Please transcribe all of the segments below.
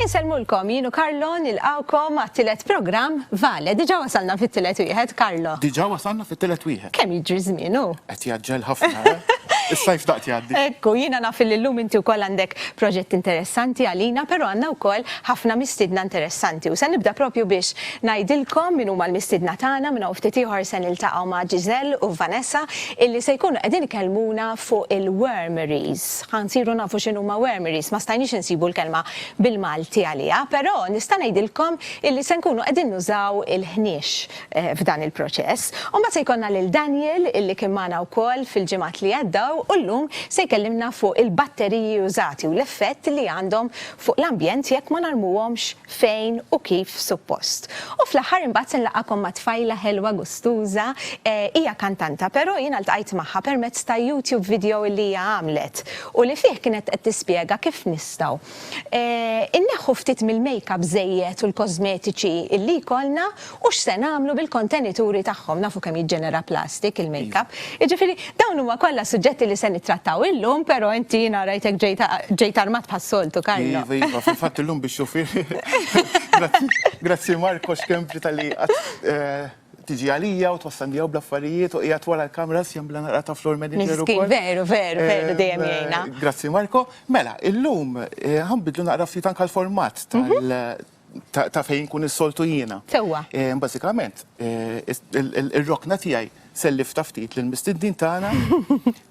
Insellmulkom jienu Karlo nilqawkom għat-tielet programm Vale. Diġà wasalna fit-tielet wieħed, Karlo. Diġà wasalna fit-tielet wieħed. Kemm jiġri żmienu? Qed jaġġel ħafna. Eh? Is-sajf daqt jgħaddi. Ekku, jiena naf li llum inti wkoll għandek proġett interessanti għalina, però għandna wkoll ħafna mistidna interessanti. U se nibda propju biex ngħidilkom min huma l-mistidna tagħna minn hawn ftit ieħor se niltaqgħu ma' Giselle u Vanessa illi se jkunu qegħdin ikellmuna fuq il-wormeries. Ħa nsiru nafu x'inhuma wormeries, ma stajniex insibu l-kelma bil-Malti għaliha, però nista' ngħidilkom illi se nkunu qegħdin nużaw il-ħniex f'dan il-proċess. U mbagħad se jkollna lil Daniel illi kien magħna wkoll fil-ġimgħat li għaddew u llum se jkellimna fuq il-batteriji użati u l-effett li għandhom fuq l-ambjent jekk ma narmuhomx fejn u kif suppost. U fl-aħħar imbagħad se nlaqgħakom ma' tfajla ħelwa gustuża, hija kantanta però jiena ltqajt magħha permezz ta' YouTube video li hija għamlet u li fih kienet qed tispjega kif nistgħu inneħħu ftit mill-makeup żejjed u l-kożmetiċi li jkollna U x'se nagħmlu bil-kontenituri tagħhom? Nafu kemm jiġġenera plastik il-makeup. Jiġifieri dawn huma kollha suġġetti li se nittrattaw illum, però inti jiena rajtek ġejt ġejt armat bħas-soltu, Carlo. Iva, iva, fil-fatt illum bix-xufier. Grazzi, grazzi Marco Schembri talli qatt tiġi għalija u twassalni hawn bl-affarijiet u qiegħed wara l-kameras jagħmilha naqra ta' floor manager ukoll. Miżkin, veru, veru, veru dejjem jgħinna. Grazzi Marco. Mela, illum ħa nbiddlu naqra ftit anke l-format tal- ta' fejn nkun is-soltu jiena. Sewwa. Eh, bażikament, eh, ir-rokna tiegħi sellif ta' ftit lil mistiddin tagħna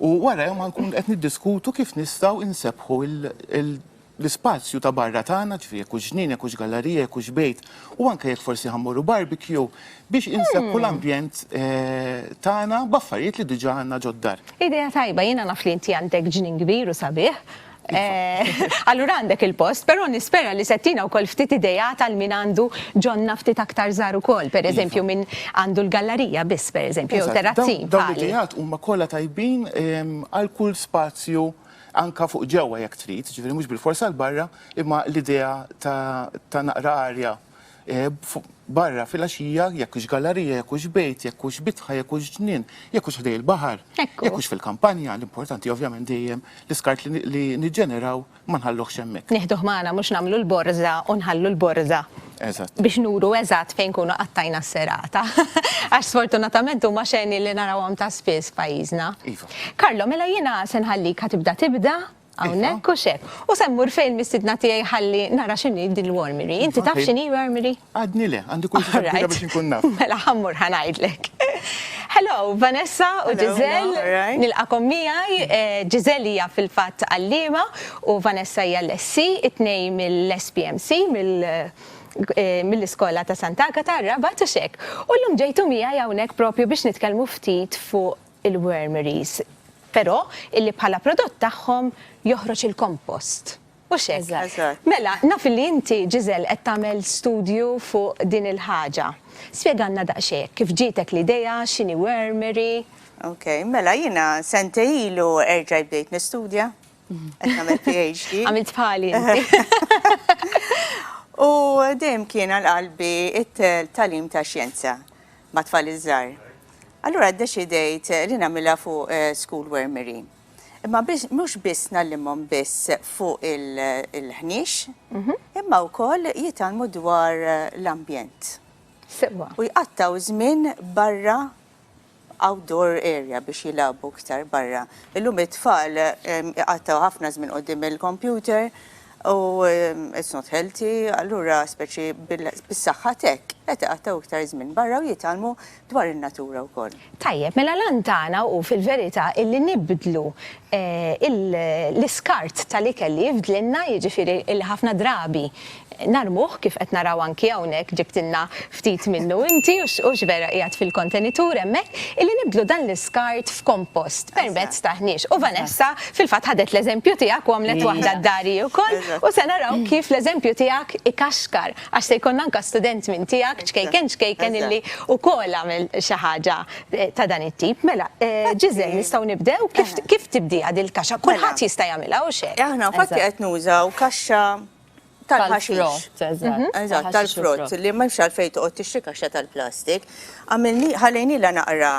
u wara ma nkun qed niddiskutu kif nistgħu insebħu l-ispazju ta' barra tagħna, ġifieri jekk ġnien, jekk hux gallerija, jekk hux bejt, u anke jekk forsi ħammorru barbecue biex insebħu hmm. l-ambjent eh, tagħna b'affarijiet li diġà għandna ġoddar. Idea tajba, jiena naf li inti għandek ġnien kbir u sabiħ, Eh, allura għandek il-post, però nispera li settina u kol ftit ideja tal min għandu ġonna ftit aktar zaru kol, per eżempju iva. minn għandu l-gallerija biss, per eżempju, jew terrazzin. Dawn l-idejat huma kollha tajbin ehm, għal kull spazju anka fuq ġewwa jekk trid, ġifieri mhux bil-forsa l-barra, imma l-idea ta' naqra arja barra fil-għaxija, jekk hux gallarija, jekk hux bejt, jekk hux bitħa, jekk hux ġnien, jekk hux ħdej il-baħar, jekk hux fil-kampanja, l-importanti ovvjament dejjem l-iskart li niġġeneraw ma nħalluhx hemmhekk. Nieħduh magħna mhux nagħmlu l-borża u nħallu l-borża biex nuru eżatt fejn nkunu qattajna s-serata. Għax sfortunatament huma xeni li narawhom ta' spiss f'pajjiżna. Iva. Carlo, mela jiena se nħallik ħa tibda tibda Hawnhekk hux hekk. U se mmur fejn mistiedna tiegħi ħalli nara x'inhi din l-armory. Inti taf x'inhi armory? Għadni le, għandi kurżità kbira biex inkun naf. Mela ħa mmur ħa ngħidlek. Hello, Vanessa u Giselle, nilqagħkom miegħi. Giselle hija fil-fatt għalliema u Vanessa hija l-SC, it-tnejn mill-SPMC, mill-iskola ta' Sant'Agata, r-Rabat, hux hekk. U llum ġejtu miegħi hawnhekk proprju biex nitkellmu ftit fuq il-wormeries, però illi bħala prodott tagħhom joħroġ il-kompost. Hux hekk? Eżatt. Eżatt. Mela, naf illi inti, Gisèle, qed tagħmel studju fuq din il-ħaġa. Spjegalna daqsxejn kif ġietek l-idea, x'inhi wormery. Ok, mela jiena sentejn ilu erġajt bdejt nistudja Qed nagħmel PhD. Għamilt bħali. U dejjem kien għal qalbi it-talim ta' xjenza ma' tfal iż-żgħar. Allura ddeċidejt li nagħmilha fuq eh, school wormery. Imma mhux biss nallimhom biss fuq il-ħniex, mhm. imma wkoll jitalmu dwar l-ambjent. Sewa. U jqattaw żmien barra outdoor area biex jilagħbu iktar barra. Illum it-tfal iqattgħu ħafna żmien quddiem il-kompjuter u it's not healthy, allura speċi bis-saħħa t'hekk qed iqattgħu iktar żmien barra u jitgħallmu dwar in-natura wkoll. Tajjeb, mela l-għan tagħna hu fil-verità illi nibdlu l-iskart tal-ikel li jifdlilna, jiġifieri li ħafna drabi narmuh kif qed naraw anki hawnhekk ġibtilna ftit minnu inti hux vera qiegħed fil-kontenitur hemmhekk, illi nibdlu dan l-iskart f'kompost permezz ta' ħniex. U Vanessa fil-fatt ħadet l-eżempju tiegħek u għamlet waħda d-dari wkoll u se naraw kif l-eżempju tiegħek ikaxkar għax se jkollna anke student minn tiegħek ċkejken ċkejken illi wkoll għamel xi ħaġa ta' dan it-tip. Mela, Ġiżel, nistgħu nibdew? Kif tibdieha din il-kaxxa? Kulħadd jista' jagħmilha, hux hekk? Aħna infatti qed nużaw kaxxa tal-ħaxix. Eżatt, tal-frott, li m'hemmx għalfejn toqgħod tixtri kaxxa tal-plastik. Ħallejnielha naqra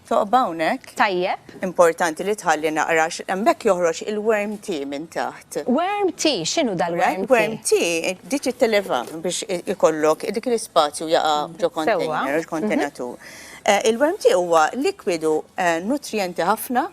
toqba hawnhekk. Tajjeb. Importanti li tħalli naqra għax hemmhekk joħroġ il-worm tea minn taħt. Worm tea? X'inhu dal-worm tea? Worm tea, dik it-televa biex ikollok dik l-ispazju jaqa' ġo kontejner, kontenatur. Il-worm tea huwa likwidu nutrijenti ħafna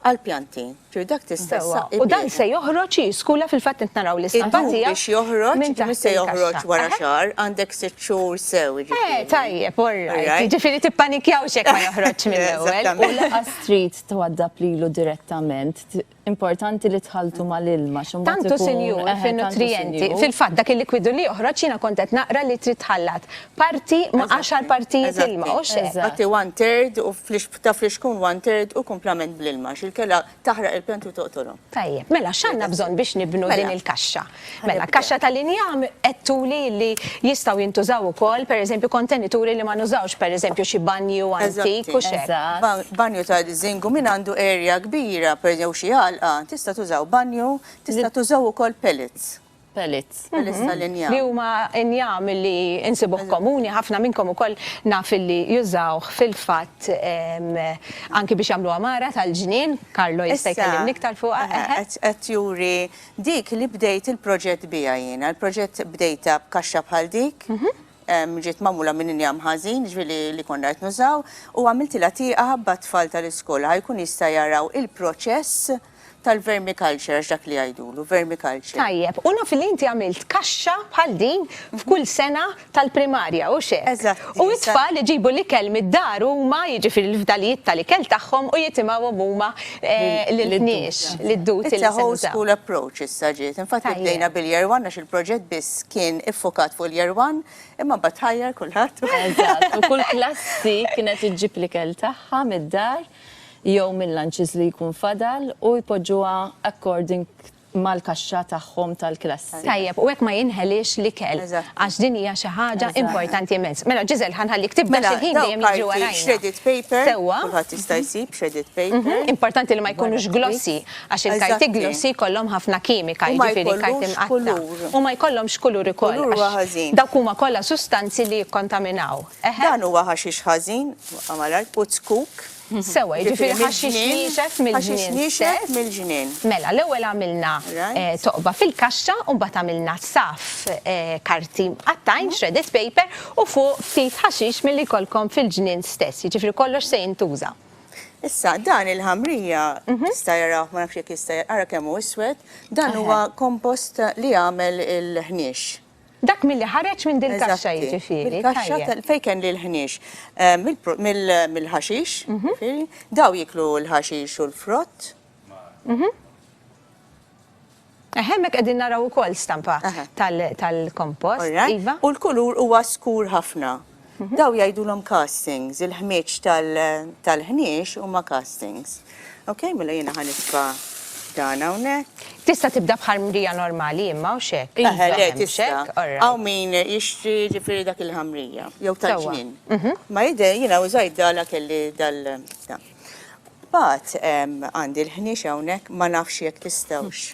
għall-pjanti. Ġifieri dak tista' ssaqi bih. U dan se joħroġ, hi skulla fil-fatt qed naraw l-isqal tiegħek. Il-bug biex joħroġ, mhux se joħroġ wara xahar, għandek sitt xhur sew, jiġifieri. Eh, tajjeb, orrajt. Jiġifieri tippanikjawx jekk ma joħroġx mill-ewwel. U lanqas trid twaddab lilu direttament. Importanti li tħalltu mal-ilma xi mbagħad Tantu ikun- sinjur eħe, tantu fin-nutrijenti. sinjur. Fil-fatt dak il-likwidu li joħroġ jiena kont qed naqra li trid tħallat parti ma' Eżatti, għaxar partijiet eżatti. ilma, u x'hekk. Eżatt. Ħatti one third u flix ta' flixkun one third u kumplament bl-ilma għax il-kela taħraq il-pjanti u toqtolhom. Tajjeb, mela x'għandna bżonn biex nibnu Mela. din il-kaxxa? Mela, kaxxa tal-injam għedtuli li jistgħu jintużaw ukoll, pereżempju, kontenituri li ma nużawx, pereżempju, xi banju antik u x'hekk. Eżatt. Banju ta' diżingu min għandu area kbira, per jew xi għalqa, tista' tużaw banju, tista' tużaw ukoll pellets. Pellets. Pellets tal-injam. Li huma injam li insibuh komuni, ħafna minnkom ukoll naf li jużawh fil-fatt anki biex jagħmlu għamara tal-ġnien, Carlo jista' jkellimni iktar fuqha, eħe. Qed juri Dik li bdejt il-proġett biha jiena. Il-proġett bdejtha b'kaxxa bħal dik, ġiet magħmula minn injam ħażin, jiġifieri li konna qed nużaw, u għamiltilha tieqa b'atfal tal-iskola ħa jkun jista' jaraw il-proċess tal-vermiculture, għax dak li jgħidulu, vermiculture. Tajjeb, u naf li inti għamilt kaxxa bħal din f'kull sena tal-primarja, hux hekk? Eżatt. U t-tfal iġibu l-ikel mid-dar huma, jiġifieri l-fdalijiet tal-ikel tagħhom u jitimgħuhom huma lill-kniex, lid-duti li se nużaw. It's a whole school approach issa ġiet. Infatti bdejna bil-Year One għax il-proġett biss kien iffukat fuq il-Year One, imma mbagħad tħajjar kulħadd u. Eżatt, u kull klassi kienet iġġib l-ikel tagħha mid-dar jew mil-lunches li jkun fadal u jpoġġuha according mal-kaxxa tagħhom tal-klassi. Tajjeb, u hekk ma jinħeliex l-ikel. Eżatt. Għax din hija xi ħaġa. Eżatt. Importanti immens. Mela Giselle ħa nħallik tibda għax il-ħin dejjem jiġri warajna. Mela, dawn karti shredded paper. Sewwa. Kulħadd jista' jsib shredded paper. Importanti li ma jkunux glossy għax il-karti. Eżatti. Glossy jkollhom ħafna kimika, jiġifieri karti mqattgħa. U ma jkollhomx kulur. U ma jkollhomx kulur ukoll. Kulur huwa ħażin. Dawk huma kollha sustanzi li jikkontaminaw. Eħe. Dan huwa ħaxix ħażin, waqqa' malajr, puzzkuk. Sewwa, jiġifieri ħaxix niexef mill-ġnien. Mela, l-ewwel għamilna toqba fil-kaxxa u mbagħad għamilna saf karti mqattgħin, shredded paper, u fuq ftit ħaxix milli jkollkom fil-ġnien stess. Jiġifieri kollox se jintuża. Issa, dan il-ħamrija, tista' jarah, ma nafx jekk jista', ara kemm hu iswed, dan huwa kompost li għamel il-ħniex. Dak milli ħareġ minn dil-kaxxa jiġifieri. Mill-kaxxa fejn kelli l-ħniex. Mill-ħaxix, jiġifieri. Daw jieklu l-ħaxix u l-frott. Hemmhekk qegħdin naraw ukoll stampa tal-kompost. U l-kulur huwa skur ħafna. Dawn jgħidulhom castings, il-ħmieġ tal-ħniex huma castings. Ok, mela jiena ħa nitfa' dan hawnhekk. Tista' tibda bħal mrija normali imma hawnx hekk? Eħe, le tista'. Hawn min jixtri ġifieri dak il-ħamrija jew tal-ġnien. Ma jidher jiena użajt dan għax kelli dal dan. Mbagħad għandi l-ħniex hawnhekk ma nafx jekk tistgħux.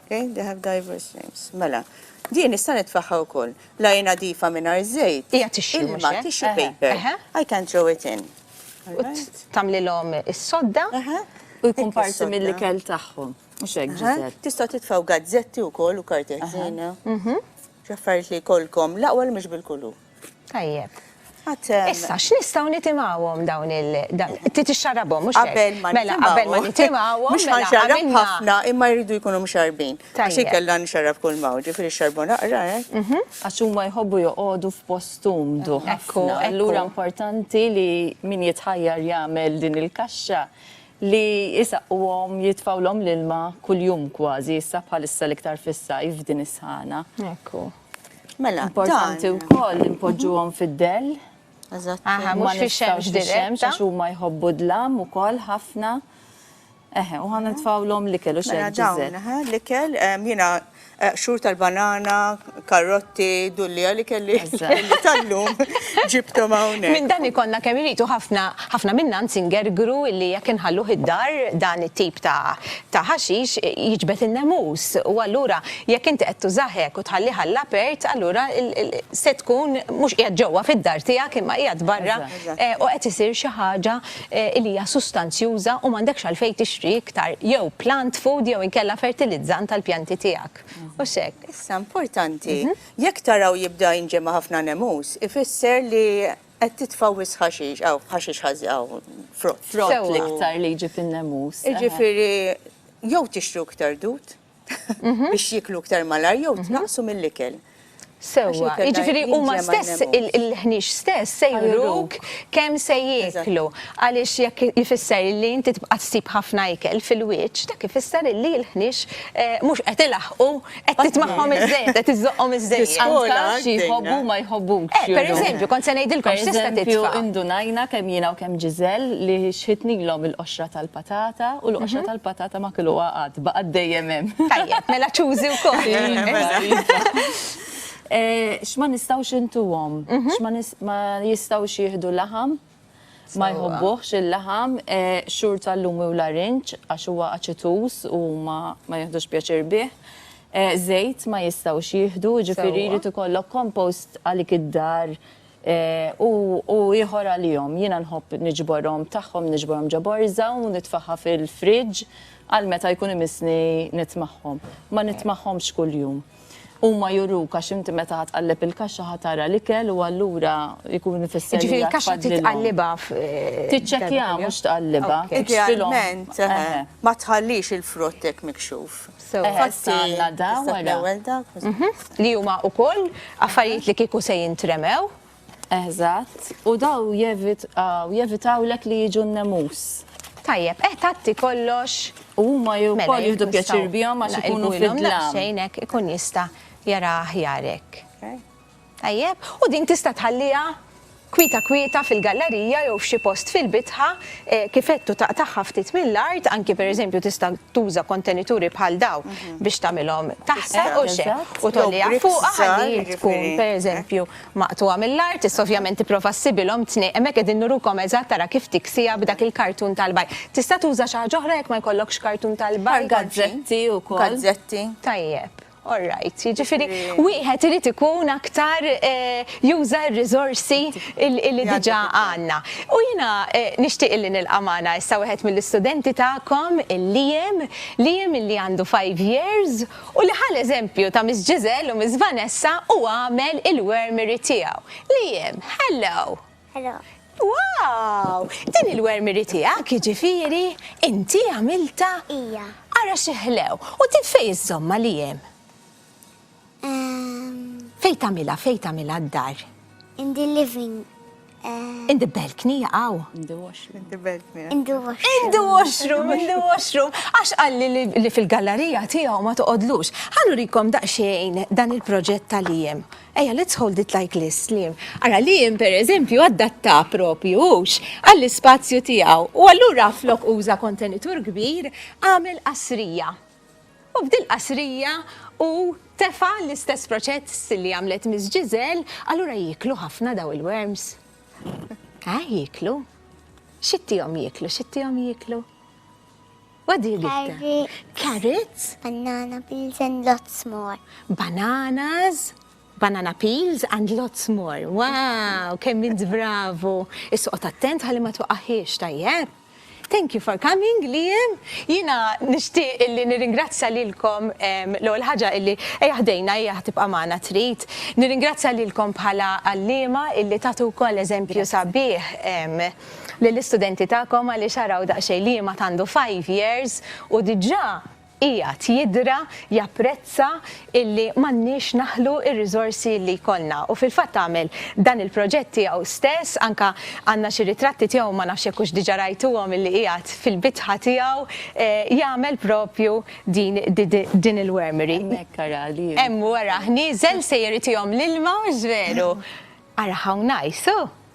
Okay, they have diverse names. Mela, din nista' nitfaħħa wkoll. La jiena difa mingħajr żejt. Hija tixxi mhux Ilma, tixxi paper. I can throw it in. Tagħmlilhom is-sodda u jkun parti mill-ikel tagħhom. Mhux hekk, Ġiżel. Tistgħu titfgħu gazzetti wkoll u karti ħżiena. X'affarijiet li jkollkom l-aqwa li mhux bil-kulur. Tajjeb. Issa, x'nistgħu nitimgħuhom dawn il trid ixxarrabhom mhux hekk? Qabel ma mela qabel ma nitimgħuhom. Mhux mela ħanxarrab ħafna imma jridu jkunu mxarrbin. Għax inkella nxarrab kull maw, ġifieri xxarrbu naqra hekk. Eh? Mhm. Għax huma jħobbu joqogħdu f'post umdu. Ekku, allura importanti li min jitħajjar jagħmel din il-kaxxa li jisaqquhom jitfawlhom l-ilma kuljum kważi, issa bħalissa l-iktar fis-sajf din is-sħana. Ekku. Mela, dan. Importanti wkoll li npoġġuhom fid-dell. Eżatt. Aha, mhux fix-xemx dirett. Għax huma jħobbu d-dlam ukoll ħafna. Eħe, u ħana tfawlhom l-ikel u xejn. Mela dawn, aha, l-ikel, jiena xhur tal-banana, karotti, dulli li kelli tal-lum ġibthom hawnhekk. Minn dan ikollna kemm irid u ħafna minna nsingergru li jekk inħalluh id-dar dan it-tip ta' ta' ħaxix jiġbed in-nemus u allura jekk inti qed tużah hekk u tħallih għall-apert allura se tkun mhux qiegħed ġewwa fid-dar tiegħek imma qiegħed barra u qed isir xi ħaġa li hija sustanzjuża u m'għandekx għalfejn tixtri iktar jew plant food jew inkella fertilizzant għall-pjanti tiegħek. Hux hekk? Issa importanti, jekk taraw jibda jinġema' ħafna nemus, ifisser li Qed titfgħu wisq ħaxix, hawn ħaxix ħażin hawn frott. Frott l-iktar li jiġi fin-nemus. Jiġifieri jew tixtru iktar dud mhm. biex jiklu iktar malar jew mhm. tnaqsu mill-ikel. Sewa, jiġifieri huma stess il-ħnix stess se juruk kemm se jieklu għaliex jekk jifisser li inti tibqa' ssib ħafna ikel fil-wiċċ dak ifisser li l-ħnix eh, mhux qed ilaħqu Qed titmagħhom iż-żejjed, qed iżżoqqhom iż-żejjed. Anke xi jħobbu ma jħobbukx. Eh, pereżempju, kont se ngħidilkom x'tista' titfa'. Pereżempju, indunajna kemm jiena u kemm Giselle li xħitnilhom il-qoxra tal-patata u l-qoxra tal-patata ma kiluha qatt, baqgħet dejjem hemm. Tajjeb, mela ċużi wkoll. Iva, iva. X'ma nistgħux intuhom, x'ma jistgħux jieħdu laħam, Ma jħobbuhx il-laħam, xhur tal-lumi u larinġ għax huwa aċituż u huma ma jiħdux pjaċir bih. Żejt ma jistgħux jieħdu, jiġifieri jrid ikollok compost għalik id-dar u ieħor għalihom. Jiena nħobb niġborhom tagħhom niġborhom ġo borża u nitfagħha fil-fridge għal meta jkun imissni nitmagħhom. Ma nitmagħhomx kuljum. Huma juruk għax inti meta ħa tqalleb il-kaxxa ħa tara l-ikel u allura jkun ifisser li. Jiġifieri l-kaxxa trid tqallibha f'. Tiċċekkja mhux tqallibha. Idealment ma tħallix il-frott hekk mikxuf. Li huma wkoll affarijiet li kieku se jintremew. Eħżatt, u daw jevitawlek li jiġu n-nemus. Tajjeb, eh tgħatti kollox. U huma jew Mela, ukoll jekk jieħdu nistgħu pjaċir bihom għax ikunu naqilbu ilhom fid-dlam. daqsxejn hekk ikun jista' jara aħjar hekk. Tajjeb? U din tista' tħalliha kwieta kwieta fil-gallarija jew f'xi post fil-bitħa, eh, kif għedt u taqtagħha ftit mill-art, anki pereżempju tista' tuża kontenituri bħal daw biex tagħmilhom taħsar u x'hekk, Eżatt. u tgħolliha Jew fuqha brick ħalli hi żgħar, tkun jiġifieri, hekk. pereżempju maqtugħa mill-art, issa ovvjament tipprova ssibilhom tnej, hemmhekk qegħdin nurukom eżatt ara kif tiksiha b'dak il-kartun tal-bajr. Tista' tuża xi ħaġa oħra jekk ma jkollokx kartun tal-bajr? Bħal gazzetti wkoll. Gazzetti. Tajjeb. All right. Jiġifieri wieħed irid ikun aktar juża r-riżorsi li diġà għandna. U jiena nixtieq illi nilqa' magħna issa wieħed mill-istudenti tagħkom, il-Liam. Liam illi għandu five years u li ħa l-eżempju ta' Miss Giselle u Miss Vanessa u għamel il-wermiri tiegħu. Liam, Hello! Hello! Wow! Din il-wermiri tiegħek, jiġifieri, inti għamiltha? Ija. Ara xi ħlew! U din fejn iżżommha, Liam? Fejn tagħmilha, fejn tagħmilha d-dar? In the living In the balcony jaqaw. In the washroom. In the balcony. In the washroom. In the washroom, in the washroom. Għax għalli li fil-gallerija tiegħu ma toqodlux. Ħallu rikom daqsxejn dan il-proġett tal-iem. Eja, let's hold it like this, Lim. Ara, Lim, per eżempju, għaddatta propju ux għall-spazju tiegħu. U allura flok uża kontenitur kbir għamel qasrija. U b'dil qasrija hu tefa' l-istess proċess li għamlet Miss Giselle, allura jieklu ħafna daw il-worms? Ah, jieklu. X'ittihom jieklu, x'ittihom jieklu? What do you give them? Carrots. Carrots? Banana peels and lots more. Bananas, banana peels and lots more. Wow, kemm int bravu. Isqot attent ħalli ma tuqaħiex tajjeb. Thank you for coming Liam. Jiena nixtieq illi nirringrazzja lilkom l-ewwel ħaġa illi ejja ħdejna ejja tibqa' magħna trid. Nirringrazzja lilkom bħala għalliema illi tagħtu wkoll eżempju sabiħ lill-istudenti tagħkom għaliex araw daqsxejn Liam għad għandu five years u diġà qiegħed jidra, japprezza illi m'għandniex naħlu r-riżorsi li jkollna. U fil-fatt għamel dan il-proġett tiegħu stess, anke għandna xi ritratti tiegħu, ma nafx jekk hux diġà rajtuhom, illi qiegħed fil-bitħa tiegħu jagħmel propju din din il-wormery. Hemmhekk ara li. Hemm wara nieżel se jagħtihom l-ilma, mhux veru? Ara hawn nice, huh?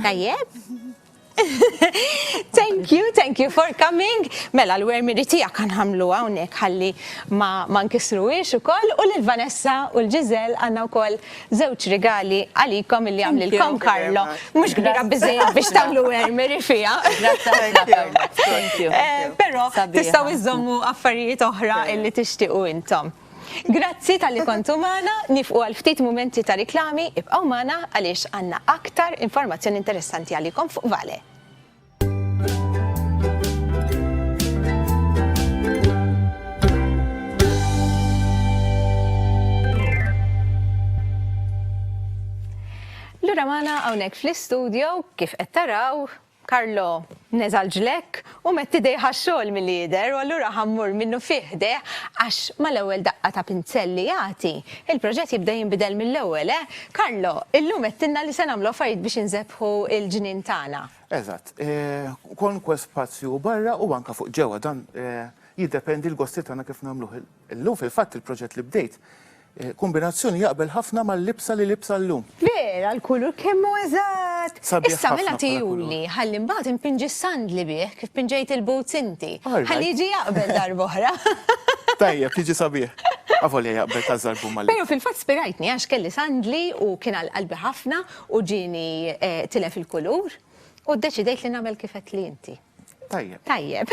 Tajjeb. thank you, thank you for coming. Mela l-wermiri tijak għan ħamlu għawnek ħalli ma, ma nkisru ix u koll u l-Vanessa u l-Ġizel għanna u koll zewċ rigali għalikom li għamli l-kom Karlo. Mux kbira bizzejja biex tamlu wermiri fija. Pero tistaw iżommu affarijiet oħra illi tixtiqu intom. Grazzi talli kontu magħna, nifqu għal ftit mumenti ta' riklami, ibqgħu magħna għaliex għandna aktar informazzjoni interessanti għalikom fuq Vale. Lura magħna hawnhekk fl-istudio kif qed taraw Carlo, Neża' l-ġlekk u metti idejh għax-xogħol milli jidher u allura ħa mmur minnufih ħdejh għax mal-ewwel daqqa ta' pinzell li jagħti, il-proġett jibda jinbidel mill-ewwel, eh, Carlo? Illum għedtilna li se nagħmlu affarijiet biex inżebħu l-ġnien tagħna. Eżatt. Kwalunkwe spazju barra u anke fuq ġewwa, dan jiddependi l-gosti tagħna kif nagħmluh Illum fil-fatt il-proġett li bdejt kombinazzjoni jaqbel ħafna mal-libsa li libsa llum. Vera l-kulur kemm hu eżatt! Issa mela tihuli ħalli imbagħad inpinġi s-sandli bih kif pinġejt il-boots inti. Ħalli jiġi jaqbel darb'oħra. Tajjeb, jiġi sabiħ. Avolja jaqbel ta' żarbum mal-libsa. Però fil-fatt spirajtni għax kelli sandli u kien għal qalbi ħafna u ġieni tilef il-kulur u ddeċidejt li nagħmel kif għedtli inti. Tajjeb. Tajjeb.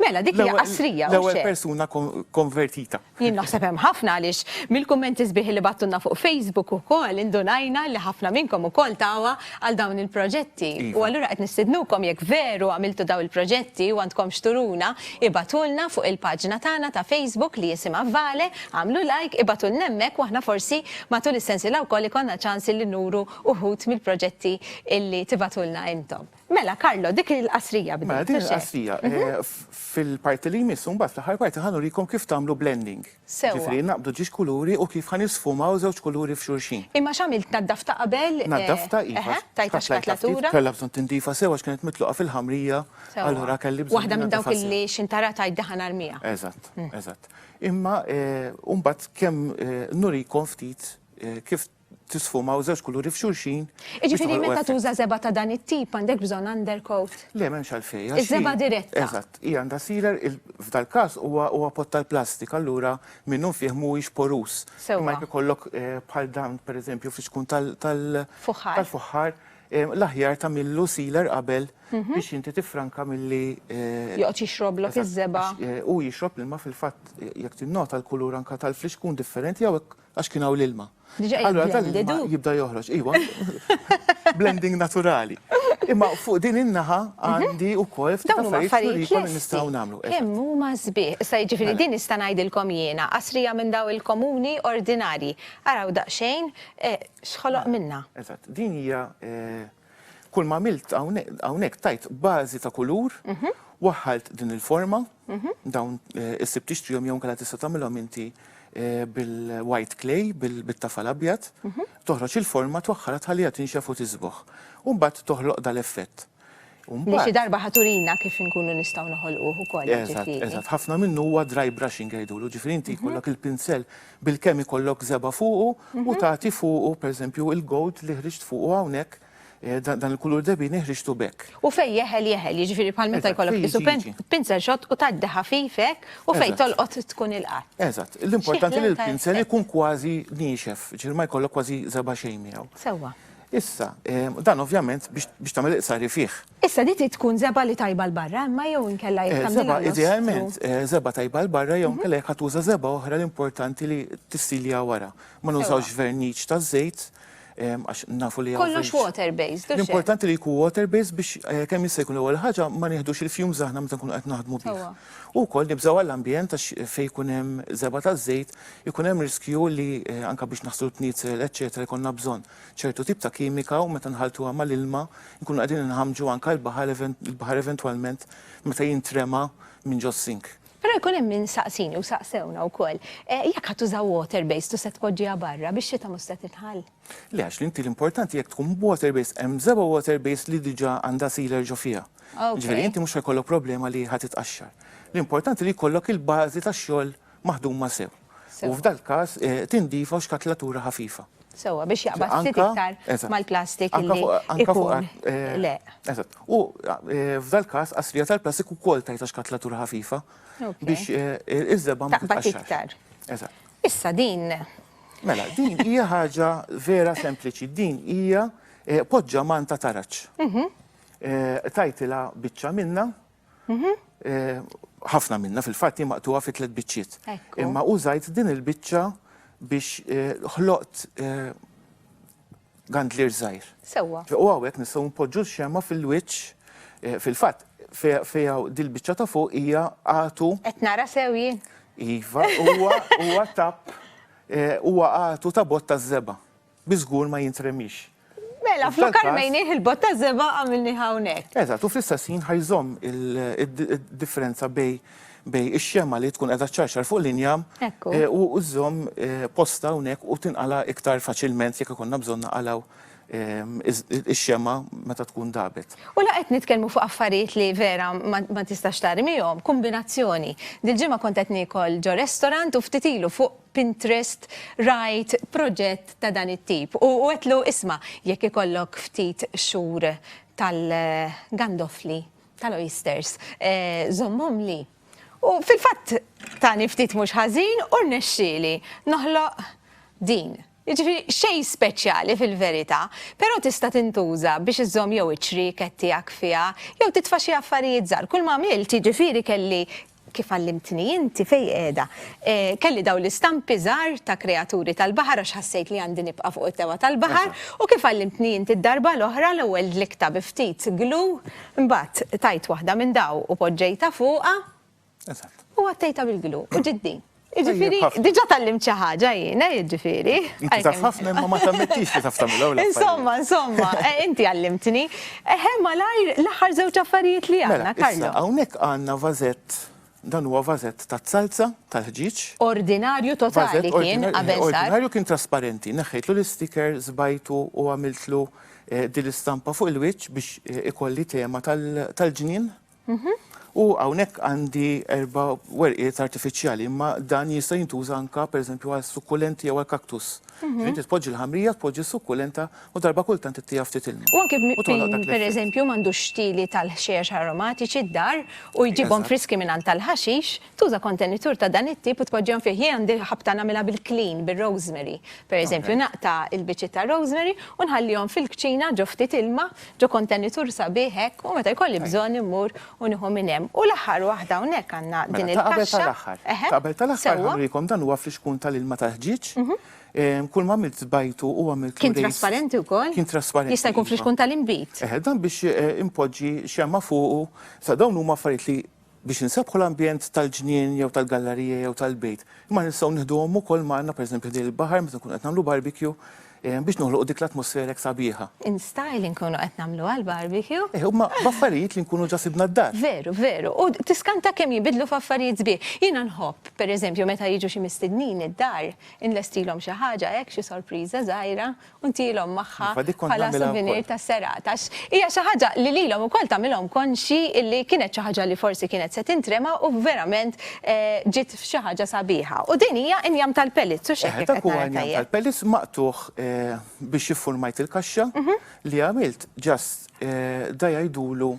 Mela, dik hija qasrija. L-ewwel persuna konvertita. Jien naħseb hemm ħafna għaliex mill-kummenti sbieħ li battunna fuq Facebook ukoll indunajna li ħafna minnkom ukoll tawa għal dawn il-proġetti. Iva. U allura qed nistidnukom jekk veru għamiltu daw il-proġetti u għandkom xturuna, ibatulna fuq il-paġna tagħna ta' Facebook li jisimha Vale, għamlu like, ibatulna hemmhekk u aħna forsi matul is-sensiela wkoll ikollna ċans li nuru uħud mill-proġetti illi tibatulna intom. Mela, Carlo, dik hi l-qasrija bdiet, Mela, din hi l-qasrija. Fil-parti li jmiss, mbagħad fl-aħħar parti ħa nurikom kif tagħmlu blending. Sewwa. Jiġifieri naqbdu ġiex kuluri u kif ħa nisfumaw żewġ kuluri f'xulxin. Imma x'għamilt, naddafta qabel? Naddafta, iva. Eħe, tajtha xkatlatura. Kellha bżonn tindiefa sewwa għax kienet mitluqa fil-ħamrija, allura kelli bżonn. Waħda minn dawk li x'intara tgħid dehha narmiha. Eżatt, eżatt. Imma mbagħad kemm nurikom ftit kif tisfumaw żewġ kuluri f'xulxin. Jiġifieri meta tuża żebgħa ta' dan it-tip għandek bżonn undercoat? Le m'hemmx għalfejn. Iż-żebgħa diretta. Eżatt, hija għandha sealer, f'dal-każ huwa pott tal-plastik allura minnu fih mhuwiex porus. Sewwa. Imma jekk ikollok bħal dan pereżempju fix-xkun tal. Fuħħar. Tal-fuħħar, l-aħjar tagħmillu sealer qabel biex inti tiffranka milli. Joqgħod jixroblok iż-żebgħa. Hu jixrob l-ilma fil-fatt jekk tinnota l-kulur anke tal-flixkun differenti hawnhekk għax kien hawn l-ilma. Diġà qiegħed Allura dan il-ma jiblendedu. jibda joħroġ, iwa, blending naturali. Imma fuq din in-naħa għandi wkoll ftit Dawn huma affarijiet affarijiet nurikom li lesti. nistgħu nagħmlu. Eżatt. Kemm huma sbieħ. Issa jiġifieri Mela. din nista' ngħidilkom jiena, qasrija minn dawn il-komuni ordinarji. Araw daqsxejn eh, x'ħoloq minnha. Eżatt, din hija eh, Kull ma għamilt hawnhekk tajt bażi ta' kulur, waħħalt din il-forma, dawn issib tixtrihom jew inkella tista' tagħmilhom inti bil-white clay, bit-tafal abjad, toħroġ il-forma, twaħħalha tħalliha tinxef u tiżboħ. U mbagħad toħloq dal-effett. Li xi darba ħa turina kif inkunu nistgħu noħolquh ukoll. Eżatt, eżatt. Ħafna minnu huwa dry brushing jgħidulu, ġifieri inti jkollok il-pinsell Bilkemm ikollok żebgħa fuqu u tagħti fuqu, pereżempju, il-gold li ħriġt fuqu hawnhekk, dan il-kulur debini ħriġtu b'hekk. U fejn jeħel jeħel, jiġifieri bħal meta jkollok qisu pinzel xott u tgħaddi ħafif hekk u fejn tolqot tkun ilqgħet. Eżatt. L-importanti li l-pinzel ikun kważi niexef, jiġifieri ma jkollok kważi żebgħa xejn miegħu. Sewwa. Issa, dan ovvjament biex tagħmel il-qsari fih. Issa di trid tkun żebgħa li tajba 'l barra imma jew inkella jekk tagħmilha l-ostrù. Żebgħa idealment żebgħa tajba 'l barra jew inkella jekk ħa tuża żebgħa oħra l-importanti li tissilja wara. Ma nużawx verniċ ta' żejt għax nafu li hawn. Kollox water based u x'hekk. L-importanti li jkun water based biex kemm jista' jkun l-ewwel ħaġa ma nieħdux il-fumes aħna meta nkunu qed naħdmu bih. U wkoll nibżgħu għall-ambjent għax fejn jkun hemm żebgħa ta' żejt ikun hemm riskju li anke biex naħslu l-pniezel eċċetera jkollna bżonn. ċertu tip ta' kimika u meta nħalltuha mal-ilma nkunu qegħdin inħammġu anke l-baħar il-baħar eventwalment meta jintrema minn ġos-sink. Però jkun hemm min saqsini u saqsewna wkoll, jekk ħa tuża water based u se tpoġġiha barra, bix-xita mhux se titħall? Le għax l-inti l-importanti jekk tkun water based hemm b'seba' water based li diġà għandha sealer ġo fiha. Jiġifieri inti mhux ħa jkollok problema li ħa titqaxxar. L-importanti li jkollok il-bażi tax-xogħol maħduma sew. U f'dal każ tindifa u xkatlatura ħafifa. Sewwa biex jaqbad ftit iktar mal-plastik li jkun. Le. Eżatt. U f'dal każ qasrija tal-plastik ukoll tgħidha xkatlatura ħafifa biex iż-żebgħa ma titqaxxarx. Taqbad iktar. Eżatt. Issa din. Mela, din hija ħaġa vera sempliċi. Din hija poġġa manta taraġ. Tgħidilha biċċa minnha. Ħafna minna fil-fatt hi maqtuha fi tliet biċċiet. Imma użajt din il-biċċa biex eh, ħloqt eh, gandlir żgħir. Sewwa. U hawnhekk nistgħu npoġġu x-xema fil-wiċċ eh, fil-fatt fejja dil-biċċa ta' fuq hija għatu. Qed nara sew jien. Iva, huwa huwa tap huwa għatu ta' botta żeba. Bi żgur ma jintremix. Mela, flok armejnieh il-bott ta' żebgħa għamilnieh hawnhekk. Eżatt, u fl-istess ħin ħa jżomm id-differenza bejn bejn ix-xemgħa li tkun qiegħda ċċarċar fuq l-injam eh, u żżomm eh, posta hawnhekk u tinqala' iktar faċilment jekk ikonna bżonn naqalgħu ehm, ix-xemgħa meta tkun dabet. U la qed nitkellmu fuq affarijiet li vera ma tistax tarmihom, kombinazzjoni. Dil-ġimgħa kont qed niekol ġo restaurant u ftit ilu fuq Pinterest rajt proġett ta' dan it-tip u għedtlu isma' jekk ikollok ftit xhur tal-gandoffli tal-oysters żommhomli. U fil-fatt tani ftit mhux ħażin u rnexxieli noħloq din. Jiġifieri xejn speċjali fil-verità, però tista' tintuża biex iżżomm jew iċ-ċrieket tiegħek fiha jew titfa' xi affarijiet żgħar. Kull ma għamilt jiġifieri kelli Kif għallimtni inti fejn qiegħda? Kelli dawn l-istampi żgħar ta' kreaturi tal-baħar għax ħassejt li għandi nibqa' fuq is-sewwa tal-baħar u kif għallimtni inti d-darba l-oħra l-ewwel dliktha bi ftit glue imbagħad tajt waħda minn dawn u poġġejtha fuqha u għattejtha bil-glue u ġiet din. Ġifiri, diġa tal-lim ċaħġa jina, ġifiri. Taf ħafna ma ma tammettix li taf tamlu Insomma, insomma, eh, inti għallimtni. Eħe, eh, malajr l-ħar zewċ affarijiet li għanna, mela, Karlo. Għawnek għanna vazet dan huwa vazet ta' salza tal-ħġiġ. Ordinarju totali kien qabel eh, Ordinarju kien trasparenti, neħħejtlu l-sticker, zbajtu u għamiltlu din l-istampa fuq il-wiċċ biex ikolli tema tal-ġnien U hawnhekk għandi erba' werqiet artifiċjali, imma dan jista' jintuża anke pereżempju għal sukkulenti jew għal kaktus. Mhm. Inti tpoġġi l-ħamrija, tpoġġi s-sukkulenta u darba kultant ittija ftit ilma. U anke b'miqpin pereżempju m'għandux stili tal-ħxejjex aromatiċi d-dar u jġibhom friski minn għand tal-ħaxix. Tuża kontenitur ta' dan it-tip u tpoġġihom fih. Jien għandi ħabta nagħmilha bil-klin, bir-rosemary. Per eżempju, naqta' il-biċċiet tar-rosemary u nħallihom fil-kċina ġo ftit ilma, ġo kontenitur sabiħ hekk, u meta jkolli bżonn immur u nieħu minn hemm. U l-aħħar waħda hawnhekk għandna din il-kaxxa. Mela, ta' qabel tal-aħħar. Ta' qabel tal-aħħar ħanurikom dan huwa flixkun tal-ilma tal-ħġieġ. Kull ma għamilt żbajtu u għamilt l-irrejs. Kien trasparenti wkoll? Kien trasparenti. Jista' jkun flixkun tal-inbid. Eħe, dan biex inpoġġi xemgħa fuqu. Sa dawn huma affarijiet li biex insebbħu l-ambjent tal-ġnien jew tal-gallarija jew tal-bejt, imma nistgħu nieħduhom ukoll magħna pereżempju ħdejn il-baħar meta nkunu qed nagħmlu barbecue biex noħloqu dik l-atmosfera hekk sabiħa. In style inkunu qed nagħmluha l-barbecue. Eh, huma b'affarijiet li nkunu ġa sibna d-dar. Veru, veru. U tiskanta kemm jinbidlu f'affarijiet sbieħ. Jiena nħobb, pereżempju, meta jiġu xi mistednin id-dar, inlestilhom xi ħaġa hekk, xi sorpriża żgħira, u ntielhom magħha bħala souvenir tas-serata għax hija xi ħaġa li lilhom ukoll tagħmilhom konxji li kienet xi ħaġa li forsi kienet se tintrema u verament ġiet f'xi ħaġa sabiħa. U din hija injam tal-pellizz, hux hekk jekk qed nara tajjeb? Eħe, dak huwa injam tal-pellizz maqtugħ biex iffurmajt il-kaxxa li għamilt ġast da jgħidulu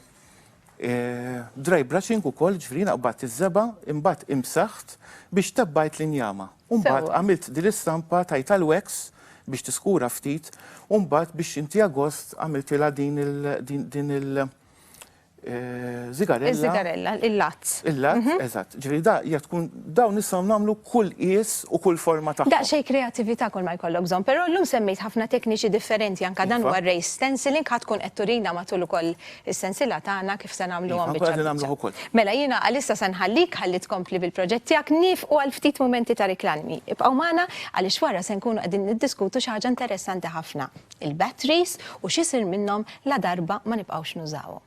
Dry brushing ukoll, ġifieri naqbadt iż-żebgħa, imbagħad imsaħħt biex tebbgħet l-injama. U mbagħad għamilt din l-istampa tajtha l-wax biex tiskura ftit u mbagħad biex inti agost għamiltilha din il din il żigarella. Iż-żigarella, il-lazz. Il-lazz, eżatt. Ġifieri da hija tkun Dawn nistgħu nagħmlu kull qies u kull forma tagħhom. Daqsxejn kreattività kull ma jkollok bżonn, però illum semmejt ħafna tekniċi differenti anke dan huwa r-raised stenciling, ħa tkun qed turina matul ukoll is-sensiela tagħna kif se nagħmluhom biċċa b'biċċa. Iva, nkunu qegħdin nagħmluh ukoll. Mela jiena għalissa se nħallik ħalli tkompli bil-proġett tiegħek, niefqu għal ftit mumenti ta' riklami. Ibqgħu magħna għaliex wara se nkunu qegħdin niddiskutu xi ħaġa interessanti ħafna, il-batteries u x'isir minnhom ladarba ma nibqgħux nużawhom.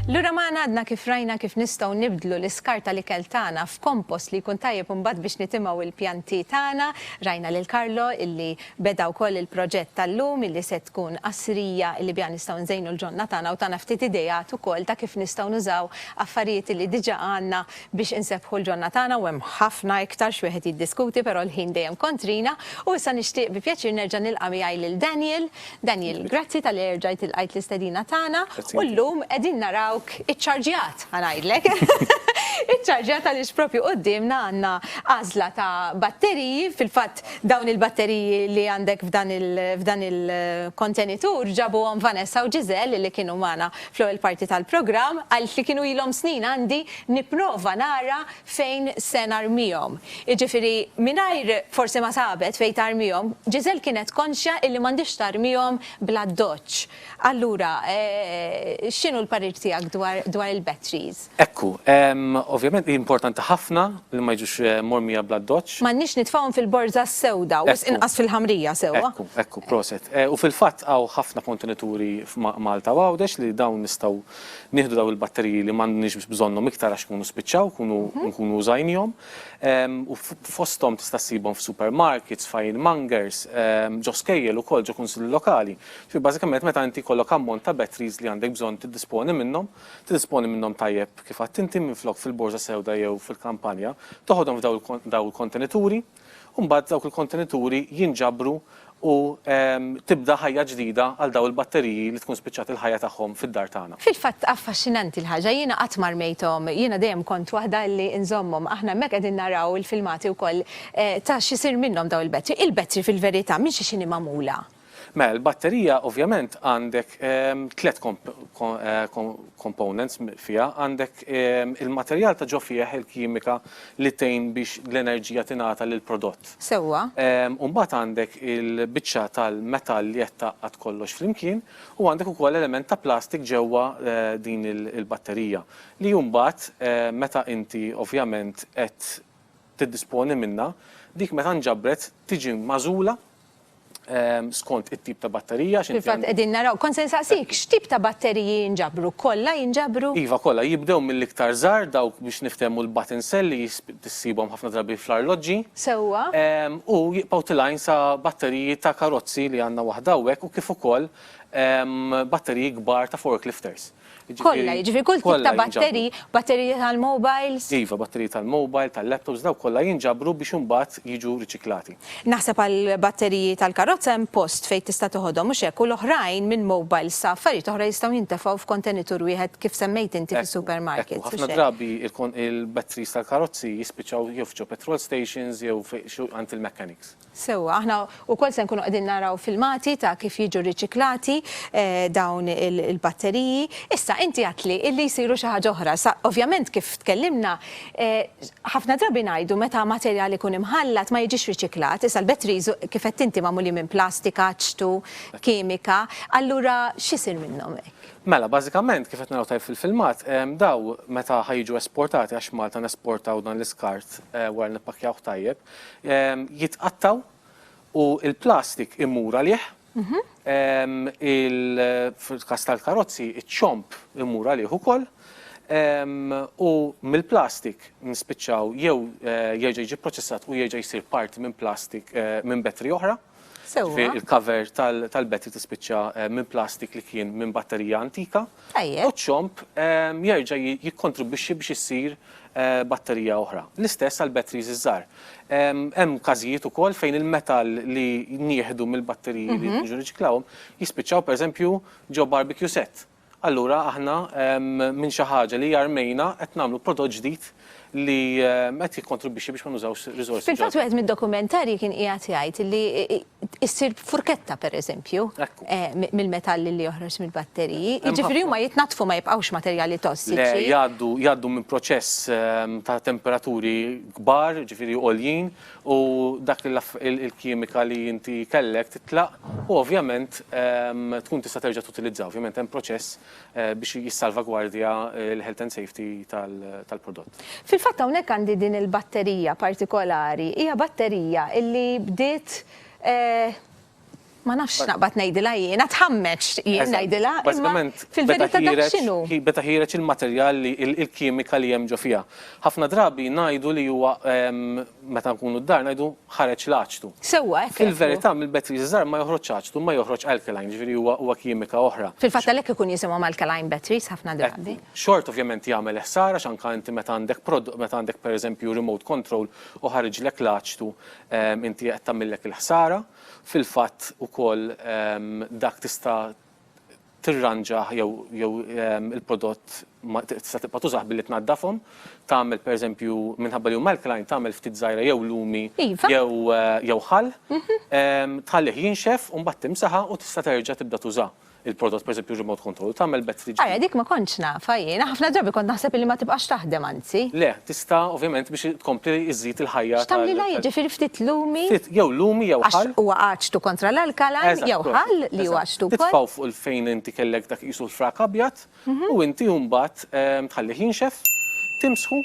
Lura maħna għadna kif rajna kif nistgħu nibdlu l-iskarta li kell tagħna f'kompost li jkun tajjeb imbagħad biex nitimgħu il-pjanti tagħna. Rajna lil Karlo illi beda wkoll il-proġett tal-lum illi se tkun qasrija illi biha nistgħu nżejnu l-ġonna tagħna u tagħna ftit idejat ukoll ta' kif nistgħu nużaw affarijiet li diġà għandna biex insebbħu l-ġonna tagħna u hemm ħafna iktar x'wieħed jiddiskuti però l-ħin dejjem kontrina u issa nixtieq bi pjaċir nerġa' nilqa' miegħi lil Daniel. Daniel, grazzi talli erġajt ilqajt l-istedina tagħna u llum qegħdin narawk iċċarġjat ħa ngħidlek. Iċċarġjat għaliex propju quddiemna għandna għażla ta' batteriji, fil-fatt dawn il-batteriji li għandek f'dan il-kontenitur ġabuhom Vanessa u Giselle li kienu magħna fl-ewwel parti tal-programm, għaltli li kienu ilhom snin għandi nipprova nara fejn se narmihom. Jiġifieri mingħajr forsi ma sabet fejn tarmihom, Gisèle kienet konxja illi m'għandhiex tarmihom bl-addoċċ. Allura, x'inhu l-parir tiegħek dwar il-batteries? Ekku, ovvjament, hi importanti ħafna li ma jiġux mormija bl-addoċċ. M'għandniex nitfgħuhom fil-borża s-sewda, wisq inqas fil-ħamrija, sewwa? Ekku, ekku, proset. U fil-fatt hawn ħafna kontenituri f'Malta u Għawdex li dawn nistgħu nieħdu dawn il-batteriji li m'għandniex bżonnhom iktar għax ikunu spiċċaw, ikunu nkunu użajnihom. U fosthom tista' ssibhom f'supermarkets, f'ironmongers, ġo skejjel ukoll, ġo kunsilli lokali. Ġifieri bażikament meta inti jkollok ammont ta' batteries li għandek bżonn tiddisponi minnhom, Tiddisponi minnhom tajjeb kif għidt inti minflok fil-borża sewda jew fil-kampanja, toħodhom f'dawn il-kontenituri u mbagħad dawk il-kontenituri jinġabru u tibda ħajja ġdida għal dawn il-batteriji li tkun spiċċat il-ħajja tagħhom fid-dar tagħna. Fil-fatt affaxxinanti l-ħaġa, jiena qatt ma rmejthom, jiena dejjem kont waħda li nżommhom. Aħna hemmhekk qegħdin naraw il-filmati wkoll ta' x'isir minnhom dawn il-bettri. Il-bettri fil-verità minn xi x'inhi magħmula? Mela, il-batterija ovvjament għandek tliet components fiha, għandek il-materjal ta' ġo fih, il-kimika li tgħin biex l-enerġija tingħata lill-prodott. Sewwa. U mbagħad għandek il-biċċa tal-metall li qed tgħaqqad kollox flimkien u għandek ukoll element ta' plastik ġewwa din il-batterija li mbagħad meta inti ovvjament qed tiddisponi minnha, dik meta nġabret tiġi magħżula skont it-tip ta' batterija. Fil-fatt qegħdin naraw, kont se nsaqsik x'tip ta' batteriji jinġabru, kollha jinġabru? Iva kollha, jibdew mill-iktar żgħar dawk biex niftehmu l-button cell li ssibhom ħafna drabi fl-arloġġi. Sewwa. U jibqgħu tilgħin sa batteriji ta' karozzi li għandna waħda hawnhekk u kif ukoll batteriji kbar ta' forklifters. Kollha, jiġifieri kull tip ta' batterji, batterji tal-mobiles. Iva, batterji tal-mobile, tal-laptops, dawk kollha jinġabru biex imbagħad jiġu riċiklati. Naħseb għall-batteriji tal-karozza hemm post fejn tista' toħodhom, mhux hekk, u l-oħrajn minn mobiles sa affarijiet oħra jistgħu jintefgħu f'kontenitur wieħed kif semmejt inti fis-supermarkets. Ekku, ħafna drabi il-batteries tal-karozzi jispiċċaw jew f'ġo petrol stations jew għand il-mechanics. Sewwa, aħna wkoll se nkunu qegħdin naraw filmati ta' kif jiġu rriċiklati dawn il-batteriji. Issa, inti għedtli li jsiru xi ħaġa oħra. Sa, ovvjament kif tkellimna, ħafna drabi ngħidu meta materjal ikun imħallat ma jiġix riċiklat. Issa l-batteries, kif għedt inti, magħmulin minn plastika, ċtu, kimika. Allura x'isir minnhom hekk? Mela, bażikament, kif qed naraw tajjeb fil-filmat, dawn meta ħa jiġu esportati, għax Malta nesportaw dan l-iskart wara li nippakkjawh tajjeb, jitqattgħu u l-plastik imur għalih, fil-każ tal-karozzi iċ-ċomb imur għalih ukoll u mill-plastik nispiċċaw jew jerġa' jiġi pproċessat u jerġa' jsir parti minn plastik minn battery oħra. Sewwa. Il-cover tal-battery tispiċċa minn plastik li kien minn batterija antika. Tajjeb. U ċ-ċomb jerġa' jikkontribwixxi biex issir batterija oħra. L-istess għall-batteries iż-żgħar. Hemm każijiet ukoll fejn il-metall li nieħdu mill-batteriji li jiġu riċiklawhom jispiċċaw pereżempju ġo barbecue set. Allura aħna minn xi ħaġa li hija rmejna qed nagħmlu prodott ġdid li qed jikkontribwixxi biex ma nużawx riżorsi ġodda. Fil-fatt wieħed mid-dokumentarji kien qiegħed jgħid li ssir furketta pereżempju mill-metall li joħroġ mill-batteriji. Jiġifieri huma jitnaddfu ma jibqgħux materjali tossiċi. Le, jgħaddu minn proċess ta' temperaturi kbar, jiġifieri għoljin, u dak il-kimika li inti kellek titlaq u ovvjament tkun tista' terġa' tutilizza. Ovvjament hemm proċess biex jissalvagwardja l-health and safety tal-prodott. Fil-fatt hawnhekk għandi din il-batterija partikolari, hija batterija illi bdiet Ma nafx x'naqbad ngħidilha jiena, tħammeġ jien ngħidilha, imma fil-verità dak x'inhu. Beda ħiereġ il-materjal li il-kimika li hemm ġo fiha. Ħafna drabi ngħidu li huwa meta nkunu d-dar ngħidu ħareġ l-aċtu. Sewwa hekk. Fil-verità mill-batteries iż-żgħar ma joħroġx aċtu imma joħroġ alkaline, jiġifieri huwa huwa kimika oħra. Fil-fatt għalhekk ikun jisimhom alkaline batteries ħafna drabi. Xorta ovvjament jagħmel ħsara għax anke inti meta għandek meta għandek pereżempju remote control u ħariġlek l-aċtu Inti qed tagħmillek il-ħsara. Fil-fatt ukoll dak tista' tirranġah jew jew il-prodott ma tista' tibqa' tużah billi tnaddafhom. Tagħmel pereżempju minħabba li huma alkaline tagħmel ftit żgħira jew lumi jew jew ħall. Tħallih jinxef u mbagħad timsaħa u tista' terġa' tibda tuża. il-prodott pereżempju remote control u tagħmel battery ġdida. Ajja, dik ma kontx nafha jiena, ħafna drabi kont naħseb illi ma tibqax taħdem anzi. Le, tista' ovvjament biex tkompli iżżid il-ħajja tal-. X'tagħmlilha jiġifieri ftit lumi? Ftit, jew lumi jew ħall. Għax huwa aċtu kontra l-alkaline, jew ħall li hu aċtu wkoll. Eżatt, titfgħu fuq il-fejn inti kellek dak qisu l-frak abjad, u inti mbagħad tħallih jinxef, timsħu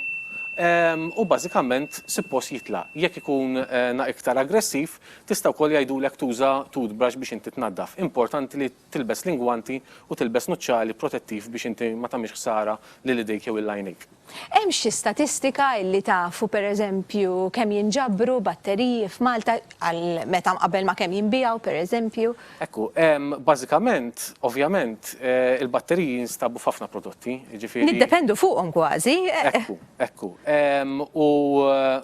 u bażikament suppost jitlaq. Jekk ikun iktar aggressiv tista' wkoll jgħidulek tuża toothbrush biex inti tnaddaf. Importanti li tilbes l-ingwanti u tilbes nuċċali protettiv biex inti ma tagħmilx ħsara lil idejk jew lil għajnejk. Hemm xi statistika illi tafu per eżempju kemm jinġabru batteriji f'Malta għal meta mqabbel ma' kemm jinbiegħu per eżempju? Ekku, bażikament, ovvjament, il-batteriji jinstabu f'ħafna prodotti, jiġifieri. Niddependu fuqhom kważi. Ekku, ekku. U.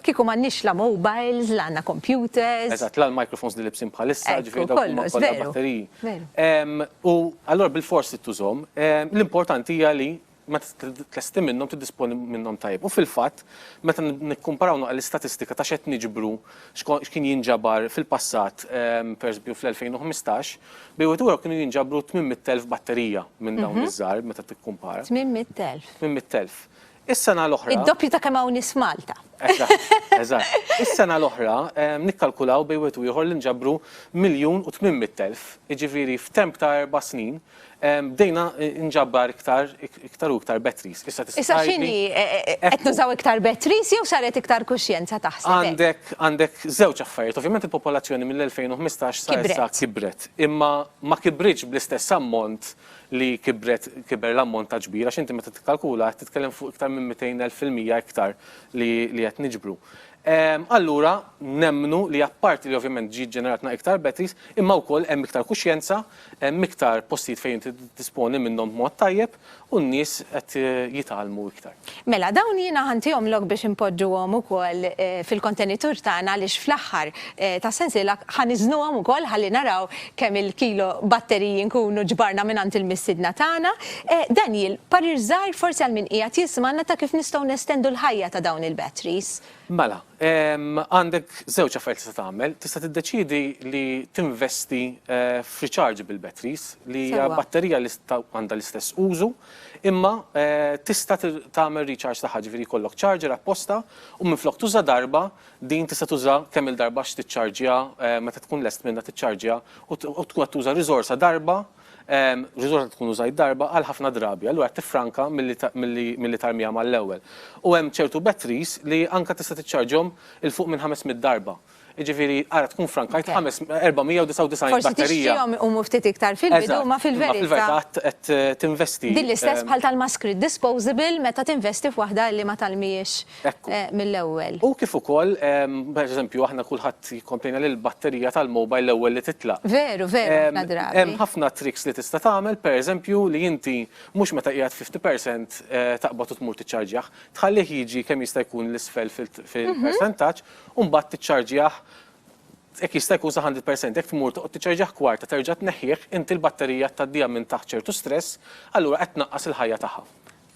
Kieku m'għandniex la mobiles, la għandna computers. Eżatt, la l-microphones li libsin bħalissa, jiġifieri dawk huma kollha batteriji. Ekku, kollox, veru, veru. U allura bilfors trid tużhom. L-importanti hija li meta titlesti minnhom tiddisponi minnhom tajjeb. U fil-fatt, meta nikkumparaw naqra l-istatistika ta' x'qed niġbru, x'kien jinġabar fil-passat, pereżempju fl-2015, bejn wieħed u ieħor kienu jinġabru 800,000 batterija minn dawn iż-żgħar meta tikkumpara. 800,000. 800,000. Is-sena l-oħra. Id-doppju ta' kemm hawn nies f'Malta. Eżatt, eżatt. Is-sena l-oħra nikkalkulaw bejn wieħed u ieħor li nġabru 1,800,000, jiġifieri f'temp ta' erba' snin Bdejna nġabbar iktar iktar u iktar batteries. Issa tista' Issa tgħidli- x'inhi? E- e- e- Qed Ekku. nużaw iktar batteries jew saret iktar kuxjenza taħseb hekk? Għandek għandek żewġ affarijiet. Ovvjament il-popolazzjoni mill-2015 sa issa Kibret. kibret. Imma ma kibritx bl-istess ammont li kibret kiber l-ammont ta' ġbir għax inti meta tikkalkula qed titkellem fuq iktar minn 200,000 fil-mija iktar li li qed niġbru. Allura nemmnu li apparti li ovvjament ġiet ġeneratna iktar batteries imma wkoll hemm iktar kuxjenza Hemm iktar postijiet fejn inti tiddisponi minnhom b'mod tajjeb u n-nies qed jitgħallmu iktar. Mela, dawn jiena ħa ntihom lok biex inpoġġuhom ukoll fil-kontenitur tagħna għaliex fl-aħħar tas-sensiela ħa niżnuhom ukoll ħalli naraw kemm il-kilo batteriji nkunu ġbarna mingħand il-missiedna tagħna. Daniel, parir żgħir forsi għal min qiegħed jismagħna ta' kif nistgħu nestendu l-ħajja ta' dawn il-batteries? Mela, għandek żewġ affarijiet tista' tagħmel, tista' tiddeċiedi li tinvesti f'rechargeable batteries li hija batterija li għandha l-istess użu, imma tista' tagħmel recharge tagħha, ġifieri jkollok charger apposta u minflok tuża darba, din tista' tuża kemm-il darba x'tiċċarġja meta tkun lest minnha tiċċarġja u tkun qed tuża riżorsa darba, Riżorsa li tkun użajt darba għal ħafna drabi, allura tiffranka milli tarmiha mal-ewwel. U hemm ċertu batteries li anke tista' tiċċarġhom 'il fuq minn 500 darba. Jiġifieri ara tkun ffrankajt 499 batterija. Forsi tixtrihom iqumu ftit iktar fil-bidu, imma fil-verità. Imma fil-verità qed tinvesti. Din l-istess bħal tal-maskri disposable meta tinvesti f'waħda li ma talmihiex. mill-ewwel. U kif ukoll, per eżempju, aħna kulħadd jikkomplejna li l-batterija tal-mobile l-ewwel li titlaq. Veru, veru, ħafna drabi. Hemm ħafna tricks li tista' tagħmel, per eżempju, li inti mhux meta qiegħed 50 percent taqbad u tmur tiċċarġjah, tħallih jiġi kemm jista' jkun 'l isfel fil-persentaġġ u mbagħad tiċċarġjah jekk jista' jkun sa 100 percent. Jekk tmur toqgħod tiċċarġjah kwarta terġa' tneħħih, inti l-batterija tgħaddiha minn taħt ċertu stress, allura qed tnaqqas il-ħajja tagħha.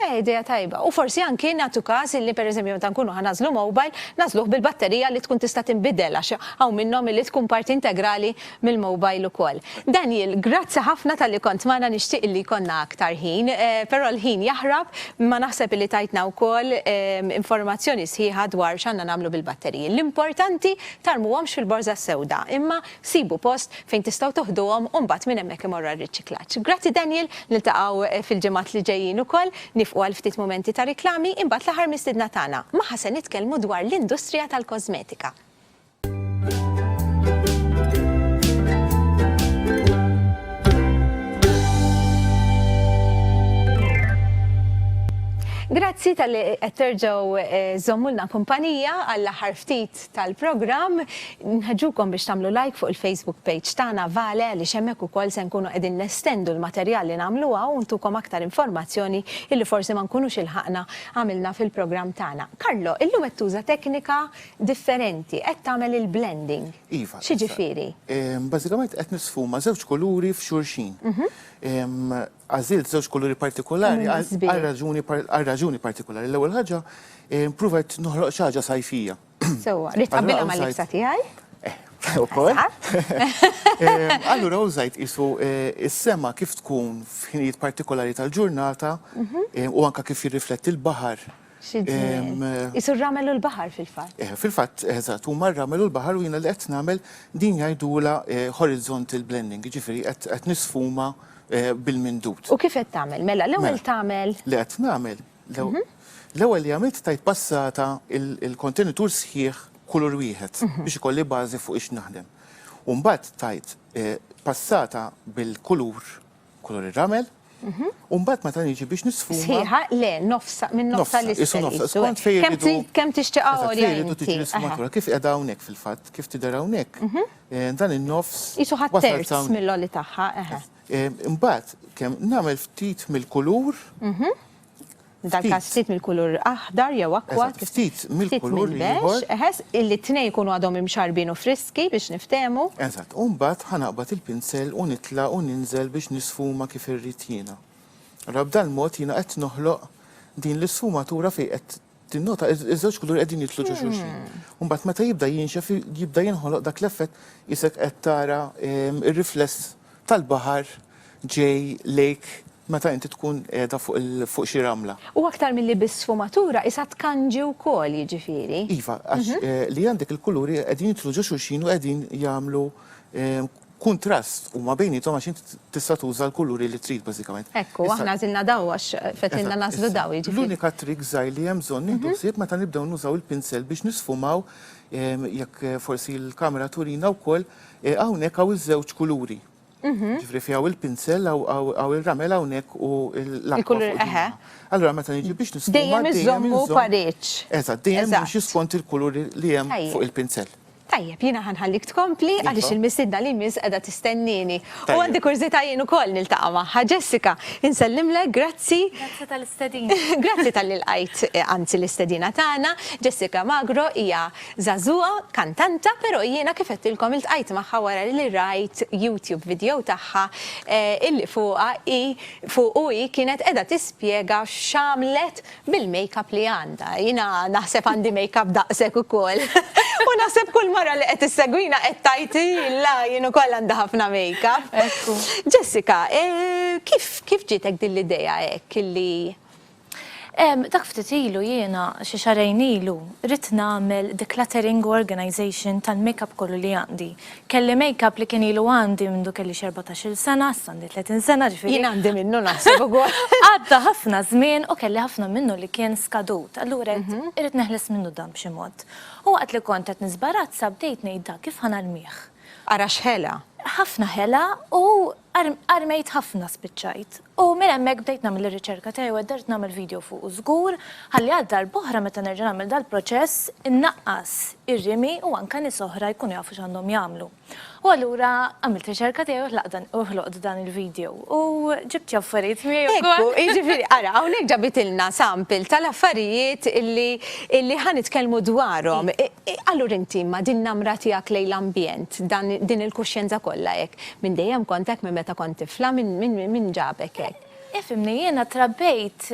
Eh, idea tajba. U forsi anki nagħtu każ illi pereżempju meta nkunu ħa nażlu mobile, nażluh bil-batterija li tkun tista' tinbidel għax hawn minnhom illi tkun parti integrali mill-mobile ukoll. Daniel, grazzi ħafna talli kont magħna nixtieq illi jkollna aktar ħin, eh, però l-ħin jaħrab, imma naħseb illi tajtna wkoll eh, informazzjoni sħiħa dwar x'għandna nagħmlu bil-batteriji. L-importanti tarmuhomx fil-borża sewda, imma Sibu post fejn tistgħu toħduhom u mbagħad minn hemmhekk imorru għar-riċiklaġġ. Grazzi Daniel, niltaqgħu fil-ġimgħat li ġejjin ukoll, nifqu għal ftit mumenti ta' riklami, imbagħad l-aħħar mistiedna tagħna, magħha se nitkellmu dwar l-industrija tal-kożmetika. Grazzi talli qed terġgħu żżommulna kumpanija għall-aħħar ftit tal-programm. Nħeġġukom biex tagħmlu like fuq il-Facebook page tagħna Vale għaliex hemmhekk ukoll se nkunu qegħdin nestendu l-materjal li nagħmlu hawn u ntukom aktar informazzjoni illi forsi ma nkunux ilħaqna għamilna fil-programm tagħna. Carlo, illum qed tuża teknika differenti, qed tagħmel il-blending. Iva. X'jiġifieri? Bażikament qed nisfuma żewġ kuluri f'xulxin. Għażilt żewġ kuluri partikulari għal raġuni għal raġuni partikulari. L-ewwel ħaġa provajt noħloq xi ħaġa sajfija. Sewwa, rrid tqabbilha mal-libsa tiegħi? Eh, ukoll. Allura użajt isu eh, is-sema kif tkun f'ħinijiet partikolari tal-ġurnata mhm. eh, u anka kif jirrifletti l-baħar Xi ġmiel. Qisu r-ramel u l-baħar fil-fatt. Eh, fil-fatt, eżatt, huma r-ramel u l-baħar u jiena li qed nagħmel din jgħidulha eh, horizontal blending, jiġifieri qed nisfuma eh, bil-mindut. U kif qed tagħmel? Mela, l-ewwel mela, tagħmel. Li qed nagħmel. Mhm. L-ewwel li għamilt tajt passata il-kontenitur sħiħ kulur wieħed mhm. biex ikolli bażi fuq ix naħdem. Umbat tajt eh, passata bil-kulur kulur ir-ramel, u mbagħad meta niġi biex nisfuma. Sħiħa, le, nofsa, minn nofsa l Isu nofsa, skont fejn iridu. Kemm tixtieq għolja inti. tiġi nisfumatura, kif qiegħda hawnhekk fil-fatt, kif tidher hawnhekk. Eh, dan in-nofs. Isu ħadd terz mill-oli tagħha, eħe. Eh, mbagħad kemm nagħmel ftit mill-kulur. F'dal-każ ftit mill-kulur aħdar jew akwa. Eżatt, ftit mill-kulur l-ieħor. Eħes, li t-tnejn ikunu għadhom imxarrbin u friski biex niftehmu. Eżatt, u mbagħad ħa naqbad il-pinsel u nitla' u ninżel biex nisfuma kif irrid jiena. Ara, b'dal mod jiena qed noħloq din l-isfumatura fejn qed tinnota ż-żewġ kuluri qegħdin jidħlu ġo xulxin. U mbagħad meta jibda jinxef jibda jinħoloq dak l-effett qisek qed tara r-rifless. tal-baħar ġej lejk meta inti tkun qiegħda fuq xi ramla. U aktar milli biss sfumatura, qisha tkanġi wkoll, jiġifieri. Iva, għax li għandek il-kuluri qegħdin jidħlu ġo xulxin u qegħdin jagħmlu kuntrast huma bejniethom għax inti tista' tuża l-kuluri li trid bażikament. Hekk hu, aħna għażilna dawl għax fetħilna nagħżlu dawl, jiġifieri. L-unika trick żgħir li hemm bżonn nieħdu ħsieb meta nibdew nużaw il-pinsel biex nisfumaw, jekk forsi l-kamera turina wkoll, Eh, hawnhekk hawn iż-żewġ kuluri. Mhm. Ġifri fi għaw il-pinsel, għaw il-ramel għawnek u l-akwa. Allora, meta nġi biex nisfumma. Dejjem iżommu pareċ. Eżat, dejjem nimxi skont il-kulur li jem fuq il-pinsel. Tajjeb, jina ħanħallik tkompli iva. għalix il-missidna li mis edha tistennini. U għandi kurzita jien u koll nil-taqa maħħa. Jessica, insellimlek, grazzi. Grazzi tal-istedina. Grazzi tal-li l-għajt, għanzi eh, l-istedina tagħna. Jessica Magro hija Żagħżugħa, kantanta, però jiena kif għedtilkom iltqajt magħha wara li rajt YouTube video tagħha illi fuqha hi, fuqu hi kienet qiegħda tispjega x'għamlet bil-makeup li għandha. Jiena naħseb għandi makeup daqshekk ukoll u naħseb kull mara li qed issegwina qed tgħid illa jien ukoll għandi ħafna makeup. Jessica, kif kif ġietek din l-idea hekk illi Dak ftit ilu jiena, xi xahrejn ilu, ridt nagħmel decluttering u organization tal-makeup kollu li għandi. Kelli makeup li kien ilu għandi mindu kelli xi erbatax-il sena, issa għandi tletin sena, ġifieri. Jien għandi minnu naħseb ukoll. Għadda ħafna żmien u kelli ħafna minnu li kien skadut, allura għedt irrid neħles minnu dan b'xi mod. U waqt li kont qed nisbarazza bdejt ngħid dan kif ħa narmih. Ara x'ħela! Ħafna ħela u armejt ħafna spiċċajt. U minn hemmhekk bdejt nagħmel ir-riċerka tiegħi u għeddert nagħmel video fuqu żgur, ħalli għal darb'oħra meta nerġa' nagħmel dal-proċess, innaqqas ir-rimi u anke nies oħra jkunu jafu x'għandhom jagħmlu. U allura għamilt riċerka tiegħi u ħlaqt dan u ħloqt dan il-video. U ġibt xi affarijiet miegħi wkoll. Ekku, jiġifieri ara, hawnhekk ġabitilna sample tal-affarijiet li li ħa nitkellmu dwarhom. Allura inti ma' din namra tiegħek lejn l-ambjent, dan din il-kuxjenza kollha hekk, Minn dejjem kont hekk minn meta kont tifla? Min ġabek hekk? Ifhimni, jiena trabbejt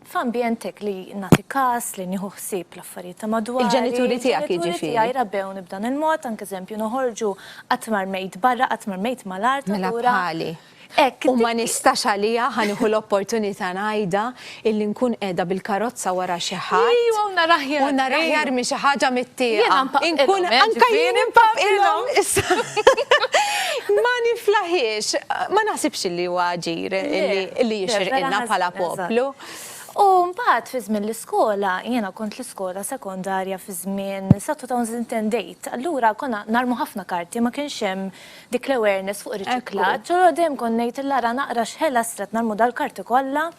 f'ambjent hekk li nagħti kas, li nieħu ħsieb l-affarijiet ta' madwari. Il-ġenituri tiegħek jiġifieri? Il-ġenituri tiegħi rabbewni b'dan il-mod, anke eżempju noħorġu qatt ma rmejt barra, qatt ma rmejt mal-art allura. Mela bħali. Hekk, u ma nistax għaliha, ħa nieħu l-opportunità ngħidha, illi nkun qiegħda bil-karozza wara xi ħadd. Ejjew u nar aħjar. U nar aħjar minn xi ħaġa mit-tieqa. Jiena npaqqilhom, eh, ġifieri. Anke jien npaqqilhom. Ma niflaħiex, ma naħsibx illi huwa aġir illi jixirqilna bħala poplu. U mbagħad fi żmien l-iskola, jiena kont l-iskola sekondarja fi żmien sa 2010 date, allura konna narmu ħafna karti, ma kienx hemm Dik l-awareness fuq ir-riċiklaġġ, u dejjem kont ngħidilha ara naqra x'ħelas trid nagħmlu dal-karti kollha,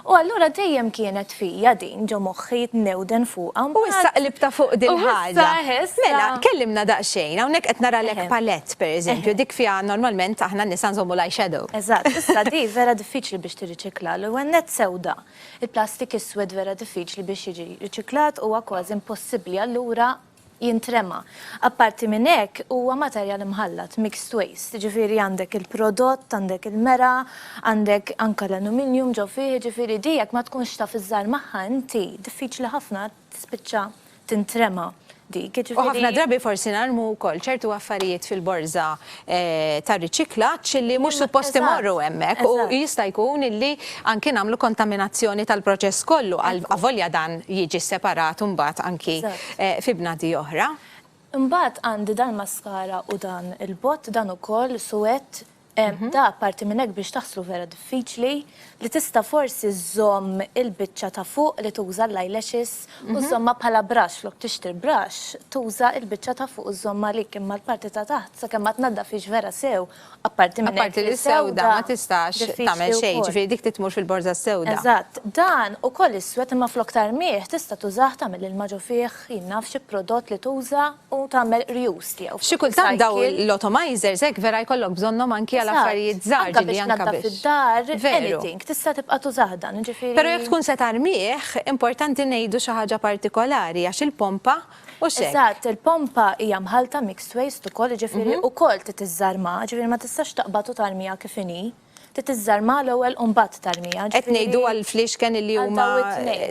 u allura dejjem kienet fija din ġo moħħi newden fuqha mbagħad. U issa qlibtha fuq din il-ħaġa. U issa, issa. Mela, kellimna daqsxejn, hawnhekk qed naralek palette per eżempju, dik fiha normalment aħna n-nisa nżommu l-eye shadow. Eżatt, issa di vera diffiċli biex tirriċikla, l-ewwel nett sewda. Il-plastik iswed vera diffiċli biex jiġi riċiklat, huwa kważi impossibbli, allura jintrema. Apparti minn hekk, huwa materjal imħallat, mixed waste, jiġifieri għandek il-prodott, għandek il-mergħa, għandek anke l-aluminjum ġo fih, jiġifieri di jekk ma tkunx taf iżżar magħha inti, diffiċli ħafna tispiċċa tintrema dik, jiġifieri. U ħafna drabi forsi narmu wkoll ċertu affarijiet fil-borża ta' riċiklaġġ li mhux suppost imorru hemmhekk u jista' jkun illi anki nagħmlu kontaminazzjoni tal-proċess kollu avolja dan jiġi separat imbagħad anki fi bnadi oħra. Imbagħad għandi dal-maskara u dan il-bott dan ukoll suwed, da apparti minn hekk biex taħslu vera diffiċli, li tista' forsi żżomm il-biċċa ta' fuq li tuża l-eyelashes u żżommha bħala brush flok tixtri brush tuża l-biċċa ta' fuq u żżomm għalik imma l-parti ta' taħt sakemm ma tnaddafhiex vera sew apparti minn hekk Apparti li sewda ma tistax tagħmel xejn, ġifieri dik trid tmur fil-borża s-sewda. Eżatt, dan ukoll iswed imma flok tarmih tista' tużah tagħmel ilma ġo fih, jien naf xi prodott li tuża u tagħmel reuse tiegħu. Xi kultant dawn l-atomizers hekk vera jkollok bżonnhom anki għal affarijiet żgħar ġieli anke biex. id-dar, anything, tista' tibqa' tużah dan, jiġifieri. Però jekk tkun se tarmih, importanti ngħidu xi ħaġa partikolari għax il-pompa hux hekk. Eżatt, il-pompa hija mħallta mixed waste ukoll, jiġifieri ukoll trid iżżarmha, jiġifieri ma tistax taqbad u tarmiha kif inhi. Trid tiżżarmha l-ewwel u mbagħad tarmiha. Qed ngħidu għall-fliexken li huma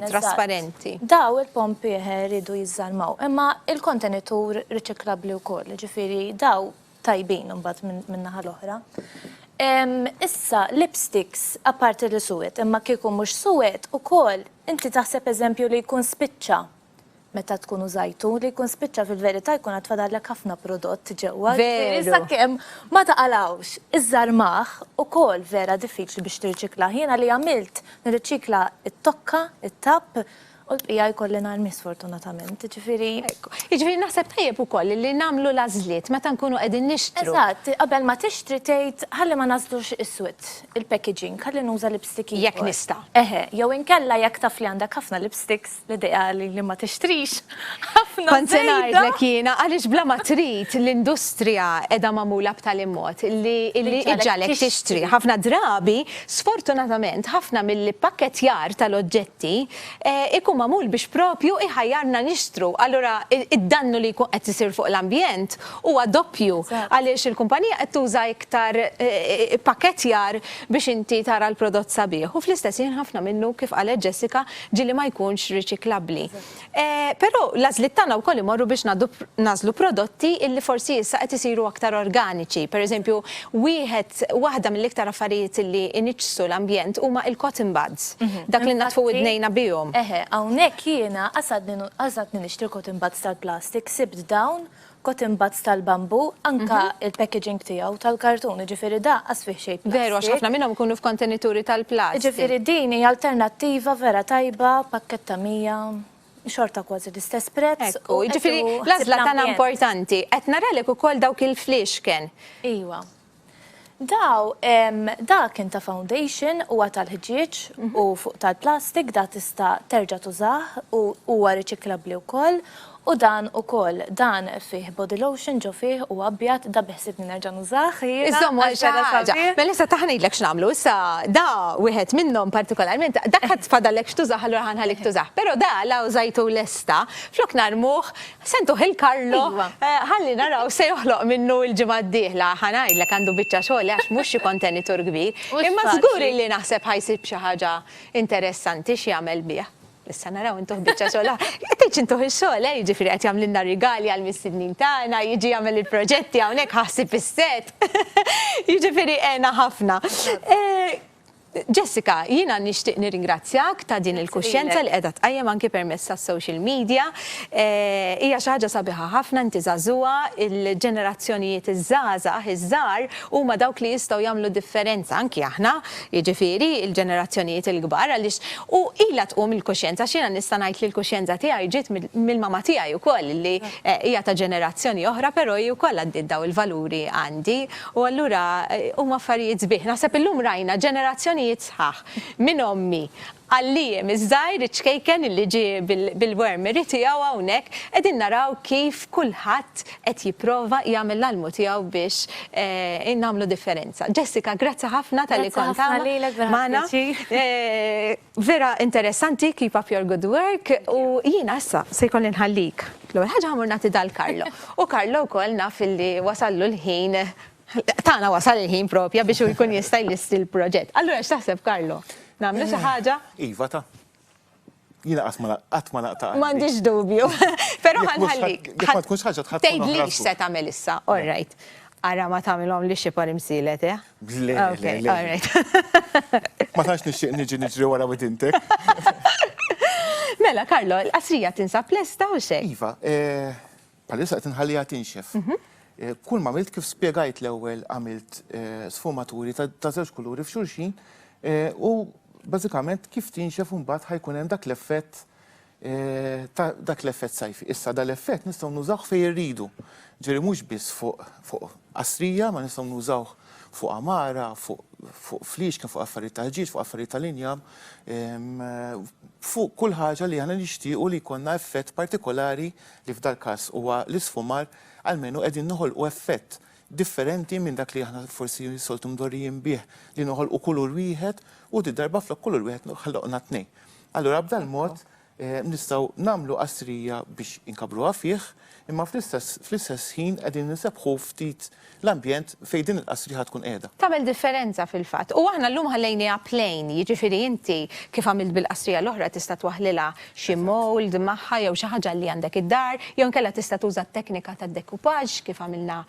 trasparenti. Daw il-pompi rridu jiżżarmaw. Imma il-kontenitur riċiklabbli wkoll, jiġifieri daw tajbin imbagħad min-naħa l-oħra. Issa lipsticks apparti li suwed, imma kieku mhux suwed ukoll inti taħseb eżempju li jkun spiċċa. Meta tkun użajtu, li jkun spiċċa fil-verità jkun għad fadallek ħafna prodott ġewwa, ġifieri sakemm ma taqalgħux. Iż-żarmagħ ukoll vera diffiċli biex tirriċiklah. Jiena li għamilt, nirriċikla t-tokka, it-tapp, u l-bqija jkolli narmi sfortunatament, jiġifieri. Hekk. Jiġifieri naħseb tajjeb ukoll li nagħmlu l-għażliet meta nkunu qegħdin nixtru. Eżatt, qabel ma tixtri tgħid ħalli ma ngħażlux iswed, il-packaging, ħalli nuża lipstick ieħor. Jekk nista'. Eħe, jew inkella jekk taf li għandek ħafna lipsticks, L-idea li li ma tixtrix ħafna. Kont se ngħidlek jiena għaliex bla ma trid l-industrija qiegħda magħmula b'tali mod li li iġġagħlek tixtri. Ħafna drabi, sfortunatament, ħafna mill-ippakketjar tal-oġġetti ikun magħmul biex propju iħajjarna nixtru. Allura id-dannu li jkun qed isir fuq l-ambjent huwa doppju għaliex il-kumpanija qed tuża iktar ippakketjar biex inti tara l-prodott sabiħ u fl-istess ħin ħafna minnu kif qalet Jessica ġieli ma jkunx riċiklabbli. Però l-għażliet tagħna wkoll imorru biex nagħżlu prodotti illi forsi issa qed isiru aktar organiċi. Pereżempju, wieħed, waħda mill-iktar affarijiet illi iniġġsu l-ambjent huma il-cotton buds, dak li nnaddfu widnejna bihom. Eħe, hawnhekk jiena qasadni qasadni nixtri l-cotton buds tal-plastik, sibt dawn cotton buds tal-bambù, anke il-packaging tiegħu tal-kartun, jiġifieri da qas fih xejn plastik. Veru, għax ħafna minnhom ikunu f'kontenituri tal-plastik. Jiġifieri din hija alternattiva vera tajba, pakkett ta' 100, xorta kważi l-istess prezz. Ekku, jiġifieri l-għażla tagħna importanti. Qed naralek ukoll dawk il-fliexken. Iwa. Daw, da kien ta' foundation, huwa tal-ħġieġ u fuq tal-plastik, da tista' terġa' tużah u huwa riċiklabbli wkoll, u dan ukoll, dan fih body lotion ġo fih, huwa abjad, da beħsiebni nerġa' nużah jiena. Iżżomm għal xi ħaġa. Mela issa ta' ħa ngħidlek x'nagħmlu, issa da wieħed minnhom partikolarment, dak għad fadallek x'tużah allura ħa nħallik tużah, però da la użajtu lesta, flok narmuh Sentu Hill Carlo ħalli naraw se joħloq minnu l-ġimgħa d-dieħla. Ħa ngħidlek għandu biċċa xogħol għax mhux xi kontenitur kbir. Imma żgur illi naħseb ħa jsib xi ħaġa interessanti x'jagħmel bih. Issa naraw intuh biċċa xogħol aħ. Qed ngħid intuh ix-xogħol eh, jiġifieri qed jagħmlilna rigali għall-mistednin tagħna, jiġi jagħmel il-proġetti hawnhekk ħa ħsib is-set. Jiġifieri għena ħafna. Jessica, jiena nixtieq nirringrazzjak ta' din il-kuxjenza li qiegħda tqajjem anki permezz tas-social media. Hija xi ħaġa sabiħa ħafna, inti żagħżugħa, il-ġenerazzjonijiet iż-żgħażagħ iż-żgħar huma dawk li jistgħu jagħmlu differenza, anki aħna, jiġifieri l-ġenerazzjonijiet il-kbar għaliex u ilha tqum il-kuxjenza għax jiena nista' ngħid li l-kuxjenza tiegħi ġiet mill-mama tiegħi wkoll li hija ta' ġenerazzjoni oħra però hi wkoll għaddiet dawn il-valuri għandi. U allura huma affarijiet sbieħ. Naħseb illum rajna ġenerazzjonijiet sħaħ minn ommi għal Liam iż-żgħir, iċ-ċkejken illi ġie bil-wormery tiegħu hawnhekk, qegħdin naraw kif kulħadd qed jipprova jagħmel l-almu tiegħu biex nagħmlu differenza. Jessica, grazzi ħafna talli kont hawn magħna. Grazzi ħafna lilek, vera pjaċir. Vera interessanti, keep up your good work, u jiena issa se jkolli nħallik. L-ewwel ħaġa ħamur nagħti dal Karlo. U Karlo wkoll naf illi wasallu l-ħin, tagħna wasal il-ħin propja biex hu jkun jista' jlisti l-proġett. Allura x'taħseb Karlo? Nagħmlu xi ħaġa? Iva ta. Jiena qatt ma qatt ma naqta' qalbi. M'għandix dubju. Però ħa nħallik. Jekk ma tkunx ħaġa tħadd. Tgħidlix se tagħmel issa, all right. Ara ma tagħmilhom li xi parimsilet, eh? Le, le, le. All right. Ma tantx nixtieq niġi niġri wara widintek. Mela, Karlo, il-qasrija tinsab lesta u xejn. Iva, palissa eh, qed inħallija tinxef. Mhm. Eh, kull ma għamilt kif spjegajt l-ewwel għamilt eh, sfumaturi ta' żewġ kuluri f'xulxin u bażikament kif tinxef imbagħad ħajkun hemm dak l-effett ta' dak l-effett sajfi. Issa dal-effett nistgħu nużawh fejn irridu, ġifieri mhux biss fuq fuq qastrija, ma nistgħu nużawh fuq għamara, fuq fuq fliexken, fuq affarijiet ta' ħġieġ, fuq affarijiet tal-injam, fuq kull ħaġa li aħna nixtiequ li jkollna effett partikolari li f'dal-każ huwa l-isfumar, almenu qegħdin noħolqu effett differenti minn dak li aħna forsi soltu mdorrijin bih li noħolqu kulur wieħed u di darba flok kulur wieħed ħloqna tnejn. Allura b'dan mod nistgħu nagħmlu qastrija biex inkabbruha fih, imma fl-istess fl-istess ħin qegħdin insebbħu ftit l-ambjent fejn din il-qastrija tkun qiegħda. Tagħmel differenza fil-fatt. U aħna llum ħallejniha plain, jiġifieri inti kif għamilt bil-qastrija l-oħra tista' twaħħlilha xi mould magħha jew xi ħaġa li għandek id-dar, jew inkella tista' tuża t-teknika tad-decoupage kif għamilna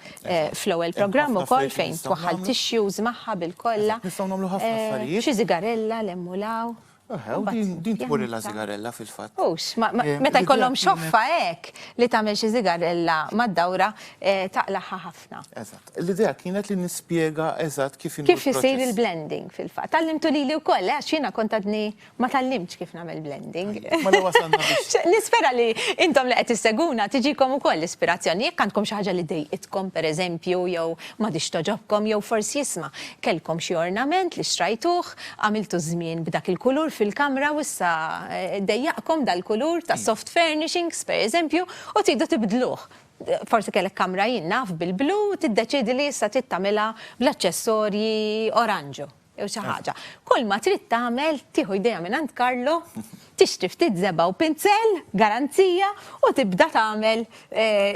fl-ewwel programm ukoll fejn twaħħal tissues magħha bil-kolla, xi sigarella 'l hemm u 'l hawn. Eħe, u din din tmur illa sigarella fil-fatt. Hux, ma- ma- Eh, meta jkollhom ridjat kienet- xoffa hekk li tagħmel xi sigarella mad-dawra eh, taqlagħha ħafna. Eżatt. L-idea kienet li nispjega eżatt kif inhu Kif isir l-proċess. il-blending fil-fatt? Tallimtu lili wkoll, eh, għax jiena kont għadni ma tallimtx kif nagħmel blending. Mela wasalna biex Xe- Nispera li intom li qed isseguna tiġikom ukoll l-ispirazzjoni. Jekk għandkom xi ħaġa li dejqitkom pereżempju jew ma dix toġobkom jew forsi jisma' kellkom xi ornament li xtrajtuh Għamiltu ż-żmien b'dak il-kulur fil-kamra u issa dejjaqkom dal-kulur ta' soft furnishings, per eżempju, u tridu tibdluh. Forsi kellek kamra, jien naf, bil-blu u tiddeċiedi li issa trid tagħmilha bl-aċċessorji oranġu jew xi ħaġa. Kull ma trid tagħmel tieħu jdejha minn għand Carlo, tixtri ftit żebgħa u pinzell, garanzija, u tibda tagħmel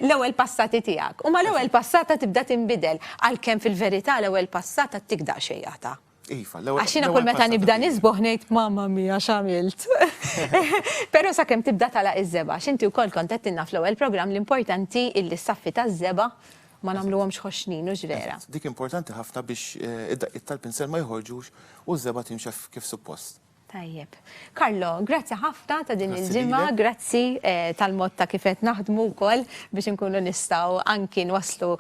l-ewwel passati tiegħek. U mal-ewwel passata tibda tinbidel, għalkemm fil-verità l-ewwel passata ttik daqsxejn għadha. Iva, l-ewwel. Għax jiena kull meta nibda nisboħ ngħid mamma mija x'għamilt. Però sakemm tibda tala iż-żeba, x'inti wkoll kont qed tinna fl-ewwel programm l-importanti illi s-saffi taż-żeba ma nagħmluhomx ħoxnin, hux vera? Dik importanti ħafna biex id-daqqiet tal-pinsel ma joħorġux u ż-żeba timxi kif suppost. Tajjeb. Carlo, grazzi ħafna ta' din il-ġimgħa, grazzi tal-mod ta' kif qed naħdmu wkoll biex inkunu nistgħu anki nwasslu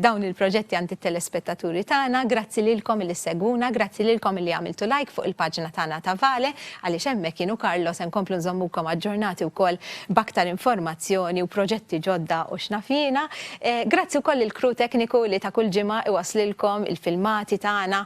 dawn il-proġetti għand it-telespettaturi tagħna. Grazzi lilkom li ssegwuna, grazzi lilkom li għamiltu like fuq il-paġna tagħna ta' Vale għaliex hemmhekk jien u Carlo se nkomplu nżommukom aġġornati wkoll b'aktar informazzjoni u proġetti ġodda u x'naf jiena. Grazzi wkoll lill-crew tekniku li ta' kull ġimgħa iwasslilkom il-filmati tagħna